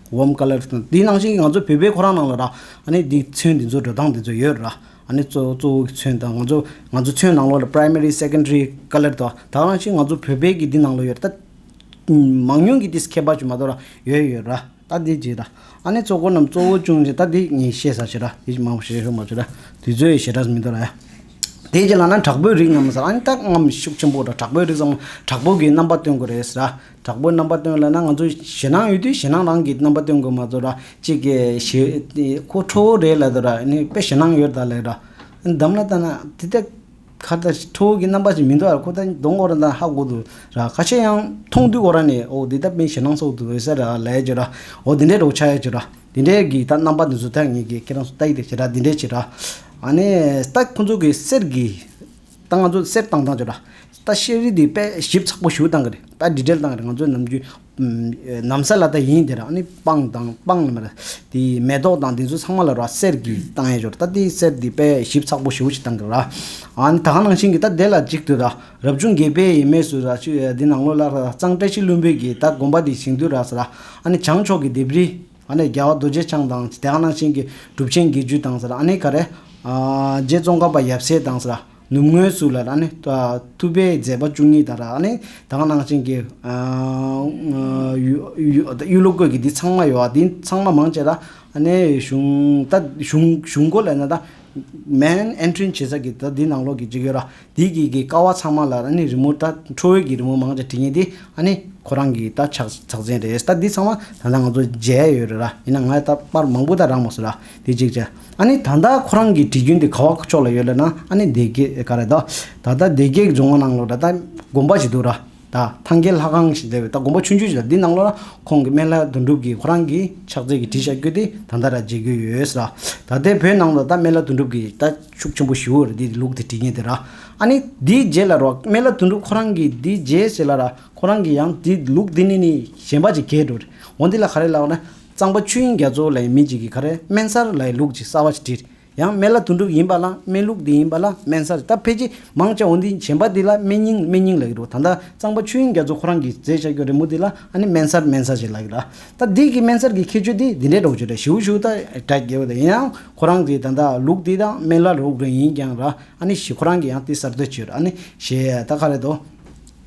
བོམ་ཀ་ལེར། དེ་ནང་བཞིན་ང་ཚོ་བོད་པའི་ཁོ་རང་ནང་ལ་ར། ཨ་ནི་དེ་ཚོན་དེ་ཚོ་འགྲོ་སྟངས་དེ་ཚོ་ཡོད་ར། ཨ་ནི་གཙོ་གཙོ་བོ་གི་ཚོན་དང་ང་ཚོ་ང་ཚོ་ཚོན་ནང་ལོགས་ལ Primary Secondary ཀ་ལེར་དང་དག་ནང་བཞིན་ང་ཚོ་བོད་པའི་གི་དེ་ནང་ལོགས་ཡོད་ར། མང་ཉུང་གི་དེ་ཁྱད་པར་ཅིག་མ་གཏོགས་ར་ཡོད་ཡོད་ར། ད་དེ་བྱས་ར། ཨ་ནི་གཙོ་འཁོར་རྣམས་གཙོ་བོ་ཅུང་ཞིག་ད་དེ་ངས་བཤད་ས་ཞིག་ར་དེ་ཞིག་མང་པོ་བཤད་ཤོག་མ་བྱོས་ར། དེ་ཚོའི་བཤད་སྒྲ་མི་འདུག་ར། དེ་རྗེས་ལ་ན་དྲག་པོའི་རིགས་རྣམས་ཟེར་ཨ་ནི་ད་རྔམ་ཤུགས་ཆེན་པོ་ར་དྲག་པོའི་རིགས་སམ་དྲག་པོ་གི་རྣམ་པ་སྟོན་དགོས་རེད་ཟེར་ར། དྲག་པོའི་རྣམ་པ་སྟོན་ལ་ན་ང་ཚོ་ཞེད་སྣང་ཡོད་དུས་ཞེད་སྣང་རང་གིས་རྣམ་པ་སྟོན་དགོས་མ་གཏོགས་ར་གཅིག་གི་ཞེ་དེ་ཁོ་ཁྲོ་བོ་རེད་ལ་དོ་ར་ནི་དཔེ་ཞེད་སྣང་ཡོད་ད་ལེ་ར་འདམ་ལ་ལྟ་ན་དེ་ལྟ་ཁ་ལྟ་ཁྲོ་བོ་གི་རྣམ་པ་ཞིག་མི་འདུག་ཨ་ར་ཁོ་ད་གདོང་འཁོར་ན་ཧ་གོ་དུས་ར་ཁ་ཤས་ཡང་མཐོང་དུས་འཁོར་ར་ནི་ཨོ་དེ་ལྟ་དཔེ་ཞེད་སྣང་སོགས་དུས་ཟེར་ར་ལས་ཀྱི་ར་འོ་དེ་འདྲའི་རོགས་ཆ་ཡ་ཀྱི་ར་དེ་འདྲའི་གི་ད་རྣམ་པ་འདི་ཚོ་ཐ་ངེས་ཀྱི་ཁྱེད་རང་ཚོ་ལྟ་ཡི་དེ་ཞེ་ར་དེ་འདྲའི་ཕྱིར་ར་ཨ་ནི་ལྟ་ཁོ་ཚོ་གི་གསེར་གི་ད་ང་ཚོ་གསེར་བཏང་བཏང་བྱོས་ད། ད་ཤེས་རིག་དེ་དཔལ་ཞིབ་ཚགས་པོ་ཞུ་བཏང་གི་རེད། ད་འདྲི་བྲལ་བཏང་གི་རེད་ང་ཚོ་ནམ་རྒྱུན། ནམ་ས་ལ་ད་ཡིན་དེ་ར་ཨ་ནི་སྤང་བཏང་སྤང་ལ་མ་ར། དེ་མེ་ཏོག་བཏང་དེ་ཚོ་ཚང་མ་ལ་རོ་གསེར་གྱི་བཏང་ཡས་ཞོར་ད་དེ་གསེར་དེ་དཔལ་ཞིབ་ཚགས་པོ་ཞུ་ཞིག་བཏང་གི་ར། ཨ་ནི་ད་ག་ནང་བཞིན་གྱི་ད་དེ་ལ་གཅིག་ཏུ་ར་རབ་བྱུང་དགེ་བས་ཡེ་མེ་སུ་ར་ཆུ་ཡ་དེ་ནང་ལོ་ལ་ར་གཙང་བཀྲ་ཤིས་བླུན་པོས་གྱིས་ད་དགོན་པ་དེ་ཞིང་དུ་ར་ས་ར་ཨ་ནི་བྱང་ཕྱོགས་ཀྱི་ལྡེབས་རིས། ཨ་ནེ་རྒྱལ་བ་རྡོ་རྗེ་འཆང་དང། དེ་ཨ་ནང་ཆེན་གྱི་གྲུབ་ཆེན་བརྒྱད་ཅུ་དང། ཨ་ནེ་ག་རེ། རྗེ་ཙོང་ཁ་པ་ཡབ་སྲས་དང། ནུབ་ངོས་སུ་ལ་ཨ་ནེ། ཐུབ་པའི་མཛད་པ་བཅུ་གཉིས་དང། ཨ་ནེ་དེ་ཨ་ནང་ཆེན་གྱི། གཡུ་ལོ་བཀོད་ཀྱི་དེ་ཚང་མ་ཡོད། དེ་ཚང་མ་མང་ཆེ་ད་ཨ་ནེ་གཞུང། ད་གཞུང་གཞུང་སྒོ་ལ་ན་ད། main entrance བྱེད་ས་ཀྱི་ད་དེ་ནང་ལོགས་ཀྱི་ཅིག་ཡོད་ར། དེའི་རྐྱེན་གྱིས་ཀ་བ་ཚང་མ་ལ་ནི་རི་མོ་ད་ཁྲོ་བོའི་གྱི་རི་མོ་མང་ཅག་བྲིས་ངེས་ཏེ་ཨ་ནི་ཁོ་རང་གི་ད་ཕྱག་ཕྱག་མཚན་རེད་ད་འདི་ཚང་མ་ད་ལྟ་ང་ཚོ་མཇལ་ཡས་ཡོད་རེད་ར་ཡིན་ན་ང་ད་པར་མང་པོ་ད་རག་མ་སོང་ར་དེ་གཅིག་བྱ་ཨ་ནི་ད་ད་ཁོ་རང་གི་བྲིས་རྒྱུན་དེ་ག་བ་ཕྱོགས་ལ་ཡོད་ལ་ན་ཨ་ནི་སྡེ་དགེ་ག་རེ་ད་ད་ད་སྡེ་དགེ་གི་རྫོང་མ་ནང་ལོ་ད་ད་དགོན་པ་ཞིག་འདུག་ར། ད་ཐང་གའི་ལྷ་ཁང་ཞིག་མཛད་པས་ད་དགོངས་པ་ཆུང་ཆུང་ཞིག་དང་དེའི་ནང་ལོགས་ན་ཁོང་གི་སྨན་བླའི་དོན་གྲུབ་ཀྱིས་ཁོ་རང་གི་ཕྱག་རྫས་ཀྱི་བྲིས་ཆ་བསྐྱུར་ཏེ་ད་ལྟ་ར་མཇལ་རྒྱུ་ཡོད། ད་ལྟའི་བོད་ནང་དུ་ད་སྨན་བླ་དོན་གྲུབ་ཀྱིས་ད་ཤུགས་ཆེན་པོ་ཞུ་འོས་རེད་དེའི་ལུགས་དེ་བྲིས་ངེས་དེ་ར། ཨ་ནི་དེའི་རྗེས་ལ་རོགས་སྨན་བླ་དོན་གྲུབ་ཁོ་རང་གིས་དེའི་རྗེས་ཟེར་ལ་ར་ཁོ་རང་གིས་ཡང་དེ་ལུགས་དེ་ནི་ནི་གཞན་པ་ཅིག་གས་འགྲོ་རེད་འོ་འདི་ལ་ག་རེ་ལབ་ན། གཙང་པ་ཆོས་དབྱིངས་རྒྱ་མཚོ་ལའི་མི་ཅིག་གིས་ག་རེ་སྨན་གསར་ལའི་ལུགས་ཅིག་གསར་བ་ཞིག་བྲིས་རེད། ཡང་སྨན་བླ་དོན་གྲུབ་ཡིན་པ་ལ་སྨན་ལུགས་འདི་ཡིན་པ་ལ་སྨན་གསར་རྟ་ཕལ་ཆེ་མང་ཅའོ་འདི་བྱན་པ་འདི་ལ་སྨན་སྙིང་སྨན་སྙིང་ལགས་ཀྱི་རོ་ད་ལྟ་གཙང་པ་ཆོས་དབྱིངས་རྒྱ་མཚོ་ཁོ་རང་གིས་མཛད་བཞག་གྱོ་རེ་མོ་འདི་ལ་ཨ་ནི་སྨན་གསར་སྨན་གསར་ཞེས་ལགས་ཀྱི་ར་ད་འདི་གི་སྨན་གསར་གྱི་ཁྱད་ཆོས་འདི་འདི་འདྲའི་གྲོགས་ཆོས་དྲ་ཞིའུ་ཞིའུ་དང་དྲ་རྒྱའི་བ་དང་ཡིན་ནའང་ཁོ་རང་གིས་ད་ལྟ་ལུགས་འདི་དང་སྨན་བླ་རོགས་རེ་ཡིན་ཀྱང་ར་ཨ་ནི་ཞེས་ཁོ་རང་གིས་ཡང་དེ་གསར་བཏོད་བྱོས་ར་ཨ་ནི་ཞེས་ད་ག་རེ་དོ།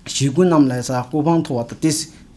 ཞེས་ཀུན་རྣམས་ལས་ས་སྐུ་འཕང་མཐོ་བ་དང་དེ།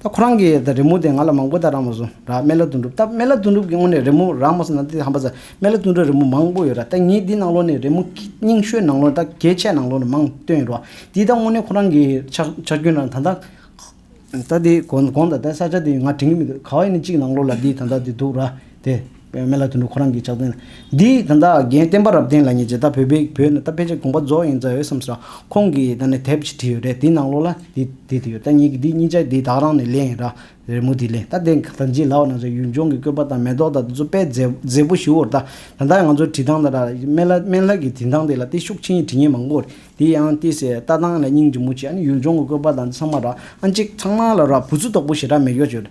ད་ཁོ་རང་གིས་ད་རི་མོ་དེ་ང་ལ་མང་པོ་ད་རང་མ་བཟོ་ར་སྨན་བླ་དོན་གྲུབ་ད་སྨན་བླ་དོན་གྲུབ་ཀྱི་སྔོན་ནས་རི་མོ་རང་མ་བཟོ་ན་དེ་ཧམ་པ་ཟ་སྨན་བླ་དོན་གྲུབ་རི་མོ་མང་པོ་ཡོད་ར་ད་ངས་འདི་ནང་ལོགས་ནས་རི་མོ་རྙིང་ཤོས་ནང་ལོགས་ད་གལ་ཆེ་ནང་ལོགས་ནས་མང་བཏོན་ཡོད་ར་འདི་ད་སྔོན་ནས་ཁོ་རང་གི་ཆག་རྒྱུན་ར་ད་ད་ད་དེ་གོང་ད་ད་ས་ཆ་དེ་ང་དྲན་གི་མི་འདུག་ག་བ་ཡིན་ན་གཅིག་ནང་ལོགས་ལ་འདི་ད་ད་འདི་འདུག་ར་དེ། པའི་མི་ལ་དུད་འགྲོ་ཁོ་རང་གིས་ཕྱག་དཔེ། འདི་ད་ལྟ་རྒན་བསྟན་པ་རབ་བརྟན་ལ་ཉེ་ཆེ་ད་བོད་པའི་བོད་ནི་ད་ཕལ་ཆེར་དགོངས་པ་རྫོགས་ཡིན་ཙང་ཡོད་བསམ་སོང་ཁོང་གིས་ད་ནི་དེབ་གཅིག་བྲིས་ཡོད་རེད་དེའི་ནང་ལོགས་ལ་འདི་འདི་དེ་ཡོད་ད་ཉིད་ཀྱི་འདི་གཉིས་ཆ་འདི་དག་རང་ནས་ལེན་ཡིན་ར་རེད་མོ་འདི་ལེན་ད་དེ་ད་འཇིག་ལགས་ན་ཟེར་ཡུལ་ལྗོངས་ཀྱི་བཀོད་པ་དང་མེ་ཏོག་དང་དེ་ཚོ་དཔེ་མཛེས་མཛེས་པོ་ཞུ་འོར་ད་ད་ལྟ་ང་ཚོའི་བྲིས་ཐང་དང་དམན་ལ་དམན་ལྷ་གི་བྲིས་ཐང་དེ་ལ་ཏི་ཤུགས་ཆེན་གྱི་བྲིས་ཉེས་མང་པོ་རེད་དེ་ཡང་ཏི་སེ་ལྟ་སྟངས་ལ་སྙིང་རྗེ་མོ་བྱེད་ཨ་ནི་ཡུལ་ལྗོངས་ཀྱི་བཀོད་པ་དང་འདི་ཚང་མ་ར་ཨ་འཇིག་ཚང་མ་ལ་ར་བུ་ཚུལ་དོག་པོ་ཞེ་དྲག་མེད་ཀྱོག་ཅོ་རེད།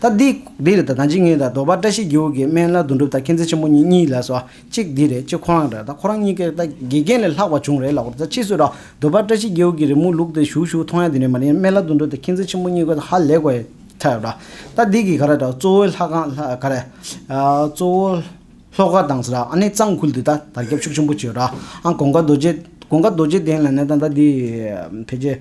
ད་འདི་འདི་རེད་ད་ད་འཇིགས་ངེས་ད་རྡོ་པ་བཀྲ་ཤིས་སྒེའུ་ཀའི་སྨན་བླ་རྡོ་འགྲུབ་ད་མཁྱེན་བརྩེ་ཆེན་པོ་གཉིས་གཉིས་ལགས་སོ་ཨ་གཅིག་འདི་རེད་གཅིག་ཁོ་རང་རེད་ད་ཁོ་རང་གཉིས་ཀས་ད་དགེ་རྒན་ལས་ལྷག་པ་བྱུང་རེད་ལགས་ད་ཕྱིས་སུ་ར་རྡོ་པ་བཀྲ་ཤིས་སྒེའུ་ཀའི་རི་མོ་ལུག་དེ་བཞུགས་བཞུགས་མཐོང་ཡ་དེ་ནས་མ་ནི་སྨན་བླ་རྡོ་འགྲུབ་ད་མཁྱེན་བརྩེ་ཆེན་པོ་གཉིས་ཀ་ད་ཧ་ལས་གོ་ཡ་ཐལ་ཡོད་ད་འདི་གི་ག་རེ་ད་གཙོ་བོའི་ལྷ་ཁང་ལྷ་ག་རེ་གཙོ་བོ་ལྷོ་ཁ་དང་ཟེར་ཨ་ནི་གཙང་ཁུལ་དུ་ད་དར་ཁྱབ་ཕྱུག་ཆེན་པོ་བྱོས་ར་ཨ་གོང་ཀ་རྡོ་རྗེ་གོང་ཀ་རྡོ་རྗེ་གདན་ལ་ནས་ད་ད་འདི་ཕལ་ཆེར་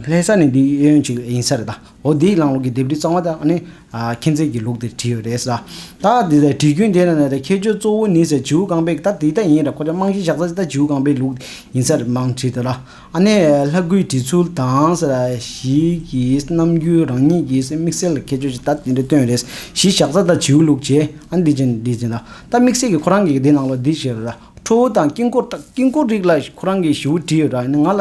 ལྷས་ས་ནི་འདི་ཡོན་ཅིག་ཡིན་ས་རེད་ད། འོ་དེའི་ལམ་ལུགས་ཀྱི་ལྡེབས་བྲིས་གཙང་མ་དག་ནི། མཁྱེན་བརྩེ་གྱི་ལུགས་དེར་བྲིས་ཡོད་རེད། ད་དེ་ལྟར་བྲིས་རྒྱུན་དེ་ནི་ཁྱད་ཆོས་གཙོ་བོ་ནི་ཟེར་བྱིའུ་རྐང་པའི་ད་དེ་ལྟར་ཡིན་རབས་ཁོ་ཚོས་རྨང་གཞི་བཞག་ས་ད་བྱིའུ་རྐང་པའི་ལུགས་ཡིན་སར་རྨང་བྲིས་དེ་ལ། ལྷ་སྐུའི་བྲིས་ཚུལ་དང། ཞིག་གིས་རྣམ་འགྱུར་རང་ཉིད་ཀྱི་དམིགས་བསལ་ཁྱད་ཆོས་ཤིག་ད་དེ་འདྲ་བཏོན་རེད། གཞི་བཞག་ས་ད་བྱིའུ་ལུགས་ཀྱི་འདི་བྱས་འདི་བྱས་ད་དམིགས་བསལ་གྱི་ཁོ་རང་གི་འདི་ནང་ལོགས་འདི་བྱས་ར་ཁྲོ་བོ་དང་དཀྱིལ་འཁོར་དཀྱིལ་འཁོར་རིགས་ལ་ཁོ་རང་གི་བྱིའུ་བྲིས་ཡོད་ར་ནི་ང་ལ་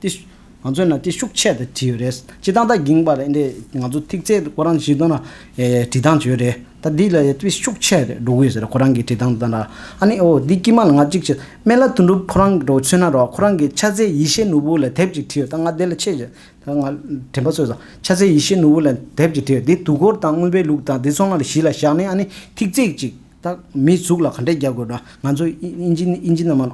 ཏི། ང་ཚོའི་ནང་ཏི་ཤུགས་ཆད་དུ་བྲིས་ཡོད་རེད། སྤྱི་བཏང་ད་གིང་པར་ཨིན་དེས་ང་ཚོ་ཐིག་ཚད་དུ་ཁོ་རང་བཞིན་ཏོ་ན་བྲིས་ཐང་བྱོས་རེད། ད་འདི་ལ་ཡི་ཏི་ཤུགས་ཆད་རེད་འགྲོ་གི་ཡོད་ཟེར་ཁོ་རང་གིས་བྲིས་ཐང་ད་ན། ཨ་ནི་ཨོ་འདི་ཀྱི་མ་ལ་ང་གཅིག་བྱེད་མེད་ལ་དོན་གྲུབ་ཁོ་རང་གི་འགྲོ་ཚུན་ན་རོགས་ཁོ་རང་གིས་ཕྱག་འཚལ་ཡེ་ཤེས་ནོར་བུ་ལ་དེབ་ཅིག་བྲིས་ཡོད་ད་ང་དེ་ལ་ཆེད་བྱས་ད་ང་དྲན་པ་གསོས་སོང་ཕྱག་འཚལ་ཡེ་ཤེས་ནོར་བུ་ལ་དེབ་ཅིག་བྲིས་ཡོད་འདི་དུས་འཁོར་དང་དངོས་པའི་ལུགས་དང་དེ་ཚོ་ང་ལ་གཞི་ལ་བཞག་ནས་ཨ་ནི་ཐིག་ཚད་ཅིག། རྟགས་མི་གཟུགས་ལ་ག་འདྲས་རྒྱག་དགོས་དྲ་ང་ཚོ་དབྱིན་ཇི་དབྱིན་ཇི་ནང་མ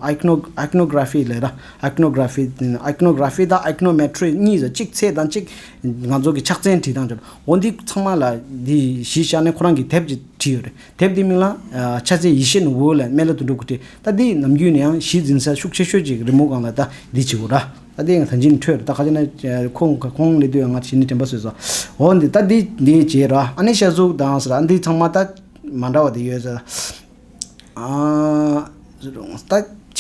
Iconography ལས་དྲ Iconography Iconography དང Iconometry གཉིས་སུ་གཅིག་ཚད་དང་གཅིག་ང་ཚོ་གི་ཕྱག་མཚན་བྲིས་སྟངས་ཅི་རེད་འོ་འདི་ཚང་མ་ལ་འདི་གཞི་བཞག་ནས་ཁོ་རང་གི་དེབ་ཅིག་བྲིས་ཡོད་རེད་དེབ་འདི་མིང་ལ་ཕྱག་མཚན་ཡེ་ཤེས་ནི་འོད་ལ་མཎྜལ་དུ་འགྲོ་དགོས་ཏེ་ད་འདི་ནམ་རྒྱུན་ནས་ཡང་གཞི་འཛིན་ས་ཤུགས་ཆེ་ཤོས་ཅིག་རི་མོ་སྒང་ལ་ད་འདི་བྱེད་དགོས་དྲ་ད་འདི་ད་འཇིགས་ནས་འཕྲོས་ད་ག་ཅེ་ན་ཁོང་ཁོང་གླེད་དུས་ང་ཞི་ནས་དྲན་པ་བཟོས་སོ་འོ་འདི་ད་འདི་འདི་བྱས་དྲ་ཨ་ནི་ཤ་གཟུགས་དང་ཟེར་ཨ་འདི་ཚང་མ་ད། མ་འདྲ་བ་དེ་ཡོད།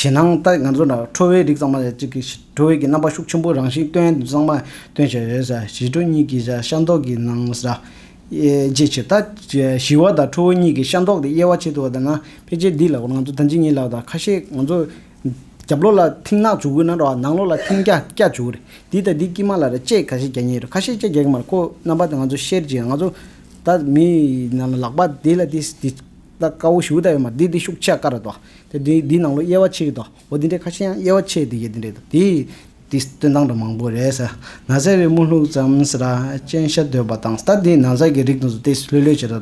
ཇེ་ནང་ལྟ་ང་ཚོ་ཁྲོ་བོའི་རིགས་ཙང་མ་ཅིག་གིས་ཁྲོ་བོའི་རྣམ་པ་ཤུགས་ཆེན་པོ་རང་བཞིན་སྟོན་ཙང་མ་སྟོན་བྱས་ཡོད། ཞི་ཁྲོ་གཉིས་ཀྱི་ཤ་མདོག་གི་ནང་དབྱེ་ཕྱིར། ད་ཞི་བ་དང་ཁྲོ་བོ་གཉིས་ཀྱི་ཤ་མདོག་དེ་དབྱེ་བ་ཕྱེ་ཐུབ་པ་དང་ན་ཕལ་ཆེར་འདི་ལ་ང་ཚོ་ད་ཇི་སྙེད་ལབ་དང་ཁ་ཤས་ང་ཚོ་རྒྱབ་ལོགས་ལ་མཐིང་ནག་བྱུག་གི་ན་རོ་ནང་ལོགས་ལ་མཐིང་སྐྱ་སྐྱ་བྱུག་གི་རེད་འདི་དང་འདི་དཀྱིས་མ་ལ་རེ་ལྕེ་ག་ཤེད་རྒྱག་ཉེ་རེད་ཁ་ཤས་ལྕེ་རྒྱག་གི་མ་རེད་ཁོ་རྣམ་པ་དེ་ང་ཚོ་ཤེར་ཅིག་ང་ཚོ་ད་མི་རྣམས་ལག་པ་དེ་ལ་དེ་དེ་ལྟ་དཀའ་བོ་ཞུ་གི་ད་ཡོད་མ་དེ་དེ་ཤུགས་ཆེ་དཀར་རེད་དོ། དེ་དེ་དེ་ནང་ལོ་དབྱེ་བ་ཕྱེ་གི་དོ་འོ་དེ་འདྲའི་ཁ་ཤས་ཡང་དབྱེ་བ་ཕྱེ་དེ་ཡོད་དེ་འདྲའི་དོ་དེ། དེ་སྟོན་སྟངས་འདྲ་མང་པོ་རེད་ཟེར་ན་ཟེར་བའི་དམུ་ལྷུག་ཙམ་ཟེར་ར་སྤྱན་ཤ་དོད་པ་དང་ད་དེ་ན་ཟ་གི་རིགས་དང་དེ་ལྷོད་ལྷོད་བྱེད་ར་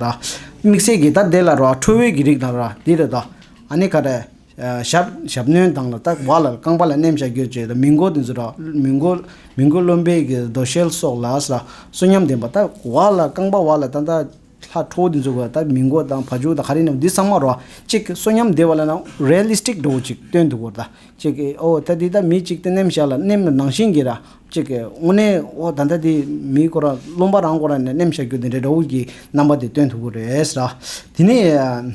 དམིགས་བསལ་གྱི་ད་དེ་ལ་རོ་ཁྲོ་བོའི་གི་རིགས་དང་ར་དེ་རེད་དོ་ཨ་ནི་ག་རེད། ཞབས་ཞབས་བསྣོན་དང་ལ་དྭགས་བ་ལ་རྐང་པ་ལ་སྣེམ་བཞག་གྱོད་བྱེད་དང་མི་མགོ་དེ་མི་མགོ་མི་མགོ་རློན་པའི་གི་རྡོ་ཤལ་སོགས་ལ་ས་གསོན་ཉམས་ལྡན་པ་ལྟ་བ་ལ་རྐང་པ་བ་ལ་ཏན་ཏག་ལྷ་ཁྲོ་བོ་དེ་འཛུགས་པ་ལྟ་མི་མགོ་དང་བ་ཕྱུགས་དང་ཧ་རི་རྣམས་འདི་ཚང་མ་རོ་གཅིག་གི་གསོན་ཉམས་ལྡན་བ་ལ་ན Realistic འགྲོ་བོ་ཅིག་སྟོན་འདུག་བར་ལྟ་གཅིག་གི་ཨོ་ད་འདི་ལྟ་མི་གཅིག་སྟེ་སྣེམ་བཞག་ལ་སྣེམ་ལ་ནང་བཞིན་གྱི་ར་གཅིག་གི་དངོས་གནས་ཨོ་ད་ལྟ་འདི་མིའི་གོ་ར་རློན་པ་རང་གོ་ར་ནས་སྣེམ་བཞག་གྱོད་དེ་འདྲའི་འགྲོ་བོ་གི་རྣམ་པ་དེ་སྟོན་ཐུབ་བོ་རེད་ཟེར་ར། དེ་ནས།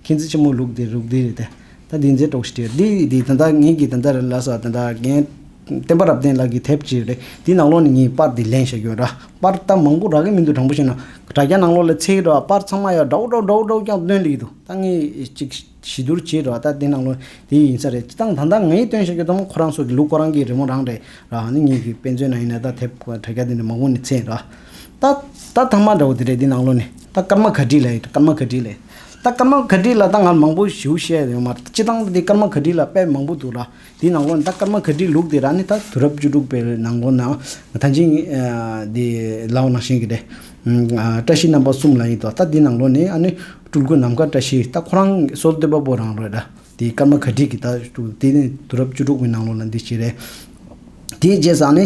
མཁྱེན་བརྩེ་ཆེན་མོ་ལུགས་འདི་རུག་འདི་རེད་དེ། ད་འདི་མཛེས་གྲོགས་ཤིག་བྲིས་འདི་འདི་ད་ལྟ་ངེད་ཀྱིས་ད་ལྟ་རེ་ལ་སོ་ད་ལྟ་རྒན། བསྟན་པ་རབ་བརྟན་ལགས་ཀྱིས་དེབ་ཅིག་རེ་འདི་ནང་ལོགས་ནས་ངས་དཔར་འདི་ལེན་བཞག་ཡོད། དཔར་རྟ་མང་པོ་རག་གི་མི་འདུག་དྲང་པོ་བཤད་ན། དྲ་རྒྱ་ནང་ལོགས་ལས་ཚེག་རེ་བ་དཔར་ཚང་མ་ཡར་དྲའུ་དྲའུ་དྲའུ་དྲའུ་རྐྱང་བཏོན་ལེ་གི་འདུག་ད་ངས་ཅིག་ཞི་བསྡུར་བྱས་རེ་བ་ད་འདི་ནང་ལོགས་འདི་ཡིན་ས་རེད་ཅི་སྟངས་ད་ད་ངས་བཏོན་བཞག་ཡོད་དམ་ཁོ་རང་ཚོ་གི་ལུགས་ཁོ་རང་གི་རི་མོ་རང་རེད་ར་ནི་ངེད་ཀྱི་དཔེ་མཛོད་ནང་ཡིན་ན་ད་དེབ་དྲ་རྒྱ་འདི་ནས་མང་པོ་ནས་ཚེག་ར། ད་ད་ཐང་མ་འདྲ་བོ་འདི་རེད་འདི་ནང་ལོགས་ནས་ད་སྐར་མ་ག་བྲིས་ལེ་སྐར་མ་ག་བྲིས་ལེ། ད་སྐར་མ་ག་དྲི་ལ་ད་ང་མང་པོ་ཞུ་བཤད་ཡོང་མ་སྤྱི་བཏང་ད་སྐར་མ་ག་དྲི་ལ་དཔེ་མང་པོ་འདུག་ལ་དེའི་ནང་ཁོ་ན་ད་སྐར་མ་ག་དྲི་ལུགས་དེ་ར་ནི་ད་དུས་རབས་བཅུ་དྲུག་པའི་ནང་ཁོ་ན་ཐང་ཆེན་དེ་ལའོ་ནང་བཞིན་གྱི་རེད། བཀྲ་ཤིས་རྣམ་པ་གསུམ་ལ་ཡིན་ཏོ་ད་དེའི་ནང་ལོ་ནི་ཨ་ནི་སྤྲུལ་སྐུ་ནམ་མཁའ་བཀྲ་ཤིས་ད་ཁོ་རང་སྲོལ་གཏོད་པ་པོ་རང་རེད། དེའི་སྐར་མ་ག་དྲིས་ཀྱི་དག་འདུག་དེ་ནི་དུས་རབས་བཅུ་དྲུག་པའི་ནང་ལོ་ན་འདི་ཞིག་རེད། དེའི་རྗེས་ཟ་ནི།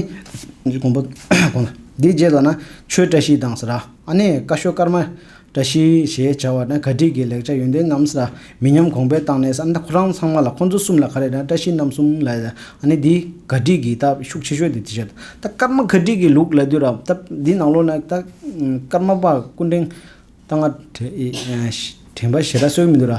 དགོངས་པ། དེའི་རྗེས་ཟ་ན་ཆོས་བཀྲ་ཤིས་དང་ཟེར་ར། ཨ་ནི་ཀ་ཤོ་སྐར་མ། བཀྲ་ཤིས་ཞེས་བྱ་བ་ན་ག་དྲིས་ཀྱི་ལེགས་ཆ་ཡོན་ཏན་ངམ་ཟེར་ར། མི་ཉམས་གོང་འཕེལ་བཏང་ནས་ཟ་ན་ཁོ་རང་ཚང་མ་ལ་ཁོ་ཚོ་གསུམ་ལ་ག་རེ་ན་བཀྲ་ཤིས་རྣམ་གསུམ་ལ་ཟེར་ཨ་ནི་དེའི་ག་དྲིས་ཀྱི་དག་ཤུགས་ཆེ་ཤོས་དེ་དེ་བྱེད། ད་སྐར་མ་ག་དྲིས་ཀྱི་ལུགས་ལ་ལྟོས་ར། ད་དེའི་ནང་ལོ་ན་ད་སྐར་མ་པ་སྐུ་འཕྲེང། རྟ་རྔ། དྲན་པ་ཞེ་དྲག་སྲོལ་མི་འདུག་ལ།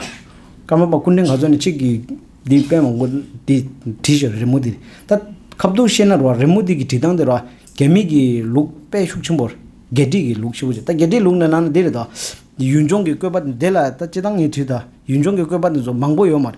སྐར་མ་པ་སྐུ་འཕྲེང་ག་ཚོད་ནས་གཅིག་གིས་འདི་སྤེལ་མ་དགོས་འདི་བྲིས་ཞེས་རི་མོ་འདི་ད་ཁ་བསྡུར་བཤད་ན་རོ་རི་མོ་འདི་གི་བྲིས་སྟངས་དེ་རོ་རྒྱ་མིག་གི་ལུགས་དཔེ་ཤུགས་ཆེན་པོ་རེད་རྒྱལ་བྲིས་ཀྱི་ལུགས་ཆེན་པོ་ཅིག་ད་རྒྱལ་བྲིས་ལུགས་ནང་ན་འདི་རེད་དོ། ཡུལ་ལྗོངས་ཀྱི་བཀོད་པ་འདི་ལ་ད་སྤྱི་སྟངས་ངས་བྲིས་ད་ཡུལ་ལྗོངས་ཀྱི་བཀོད་པ་འདི་ཚོ་མང་པོ་ཡོད་མ་རེད་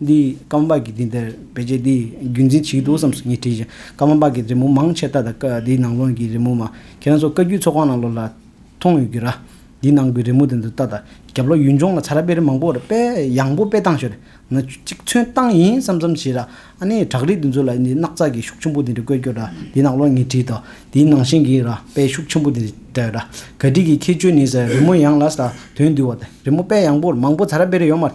འདིས་ཀརྨ་པ་གིས་དེ་ལྟར་བེད་སྤྱད་དེ་རྒྱུན་འཛིན་བྱེད་ཀྱི་འདུག་བསམ་སོང་ངས་དྲིས་ཀྱང་ཀརྨ་པ་གིས་རི་མོ་མང་ཆེ་ད་ལྟ་ཀ་འདིའི་ནང་ལོགས་ཀྱི་རི་མོ་མ་ཁྱེད་རང་ཚོ་བཀའ་བརྒྱུད་ཚོགས་ཁང་ནང་ལོགས་ལ་མཐོང་ཡོད་རྒྱུ་ར། འདིའི་ནང་གི་རི་མོ་དེ་འདི་ལྟ་ད་རྒྱབ་ལོགས་ཡུལ་ལྗོངས་ལ་ཚ་ར་དཔེ་རིས་མང་པོ་ར་དཔེ་ཡང་པོ་དཔེ་བཏང་ཞོར་ན་གཅིག་མཚོན་བཏང་ཡིན་བསམ་བསམ་བྱས་ར་ཨ་ནི་བྲག་རི་དེ་ཚོ་ལ་འདི་སྣག་ཚ་གི་ཤུགས་ཆེན་པོ་དེ་འདྲ་བཀོད་རྒྱུ་ར་འདིའི་ནང་ལོགས་ངས་དྲིས་ད་འདིའི་ནང་བཞིན་གྱི་ར་དཔེ་ཤུགས་ཆེན་པོ་དེ་འདྲ་ཡོད་ར་ག་དྲིས་ཀྱི་ཁྱེད་ཆོས་ནི་ཟེར་རི་མོ་ཡང་ལ་ཟ་དོན་འདུལ་བ་དེ་རི་མོ་དཔེ་ཡང་པོ་མང་པོ་ཚ་ར་དཔེ་རིས་ཡོད་མ་རེད།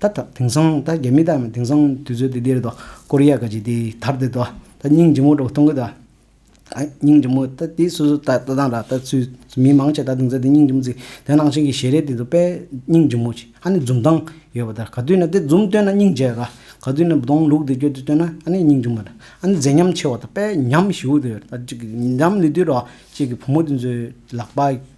ད་ལྟ་དེང་སང་ད་རྒྱ་མི་དག་ནི་དེང་སང་དུས་ཚོད་འདི་འདིར་ད་ཀོ་རི་ཡ་ག་ཅིག་དེའི་དར་དེ་ད་སྙིང་རྗེ་མོ་འགྲོ་གཏོང་གི་ད་སྙིང་རྗེ་མོ་ད་དེ་སོ་སོ་ད་ལྟ་དང་ད་ཚུལ་མི་མང་ཆེ་ད་དེང་སང་དེ་སྙིང་རྗེ་མོ་ཚིག་དེ་ནང་བཞིན་གྱི་ཞལ་རས་དེ་ད་དཔེ་སྙིང་རྗེ་མོ་ཅིག་ཨ་ནི་འཛུམ་མདངས་ཡོད་པ་དར་ག་དུས་ན་དེ་འཛུམ་སྟོན་ན་སྙིང་རྗེ་ག་ག་དུས་ན་གདོང་ལུག་དེ་སྐྱོ་དུས་སྟོན་ན་ཨ་ནི་སྙིང་རྗེ་མོ་ད་ཨ་ནི་མཛེས་ཉམས་ཆེ་བ་ད་དཔེ་ཉམས་ཞིའུ་དེ་ཡོད་ད་ཅིག་གི་ཉམས་ནི་དུས་ར་ཅིག་གི་བུ་མོ་དེ་ཚོའི་ལག་པ།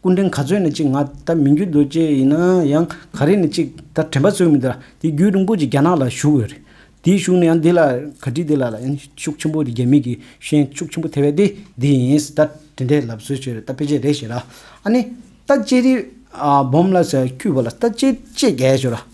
སྐུ་མགྲོན་ག་ཚོད་ནས་ཅིག་ང་ད་མི་འགྱུར་འདུག་ཅེས་ཡིན་ན་ཡང་ག་རེ་ནས་ཅིག་ད་དྲན་པ་ཚོད་མི་འདུག་ལ་དེ་བརྒྱུད་རིང་པོ་ཅིག་རྒྱ་ནག་ལ་བཞུགས་ཡོད་རེད། དེ་བཞུགས་ནས་ཡང་འདི་ལ་ག་དྲིས་འདི་ལ་ལ་ཡང་ཤུགས་ཆེན་པོ་འདི་རྒྱ་མི་གི་ཤན་ཤུགས་ཆེན་པོ་ཐེ་བས་ཏེ་འདི་ཡིན་ད་དྲན་དེ་ལབ་ཚོད་ཆོད་རེད་ད་ཕལ་ཆེར་རེད་ཞེས་ལ་ཨ་ནི་ད་ལྕེ་རི་སྦོམ་ལ་ཟེར་བ་ཁྱུད་པ་ལ་ད་ལྕེ་ལྕེ་རྒྱལ་ཞོར་ལ།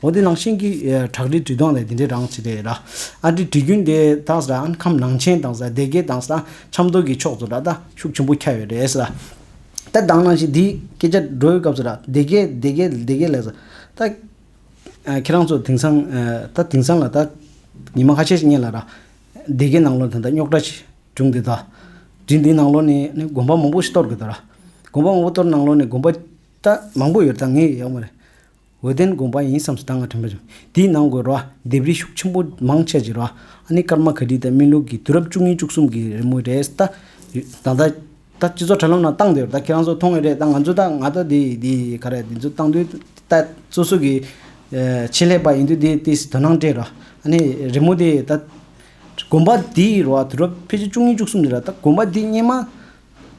འོ་དེ་ནང་བཞིན་གྱི་བྲག་རི་བྲིས་སྟངས་ལས་དེ་འདྲའི་རང་བྱེད་དེ་ར། ཨ་དེ་བྲིས་རྒྱུན་དེ་དག་ཟ་ཨན་ཁམས་ནང་ཆེན་དང་ཟ་སྡེ་དགེ་དང་ཟ་ཆབ་མདོ་གི་ཕྱོགས་སུ་ར་ད་ཤུགས་ཆེན་པོ་ཁྱབ་ཡོད་རེད་ཟ། ད་དང་ནང་བཞིན་དེའི་སྐད་ཆ་སྒྲོའི་སྐབས་སུ་ར་སྡེ་དགེ་སྡེ་དགེ་སྡེ་དགེ་ལས་ཟ། ད། ཁྱེད་རང་ཚོ་དེང་སང་ད་དེང་སང་ལ་ད་ཉི་མ་ཁ་ཤས་ཤིག་རྙེད་ལ་ར་སྡེ་དགེ་ནང་ལོ་དེ་ད་རྙོག་དྲ་ཞིག་བྱུང་དེ་ད་རི་འདིའི་ནང་ལོ་ནས་ནི་དགོན་པ་མང་པོ་ཞིག་གཏོར་དགོས་དོ་ར། དགོན་པ་མང་པོ་གཏོར་ནང་ལོ་ནས་དགོན་པ་ད་མང་པོ་ཡོད་ད་ངས་ཡག་མོ་རེད། འོད་ལྡན་དགོངས་པ་ཡིན་བསམ་སོ་ད་སྔ་དྲན་པ་བྱུང། དེའི་ནང་དགོད་རོ་ལྡེབས་རིས་ཤུགས་ཆེན་པོ་མང་ཆེ་བྱེད་རོ་ཨ་ནི་སྐར་མ་ག་དྲི་དང་སྨིན་ལུགས་ཀྱི་དུས་རབས་བཅུ་གཉིས་བཅུ་གསུམ་གྱི་རི་མོ་རེད་ད། ད་ད། ད་སྤྱི་ཚོགས་དྲ་ལམ་ནང་བཏང་འདོད་ད་ཁྱེད་རང་ཚོ་མཐོང་ངེས་རེད་ད་ང་ཚོ་ད་ང་ད་དེ་དེ་ག་རེད་དེ་ཚོ་བཏང་དུས་ད་སོ་སོ་གི། ཆེད་ལས་པ་ཡིན་དུས་དེ་དེ་དོ་སྣང་སྤྲད་རོ་ཨ་ནི་རི་མོ་དེ་ད། དགོན་པ་དེའི་རོ་དུས་རབས་ཕལ་ཆེར་བཅུ་གཉིས་བཅུ་གསུམ་དེ་ར་ད་དགོན་པ་དེ་སྙེ་མ།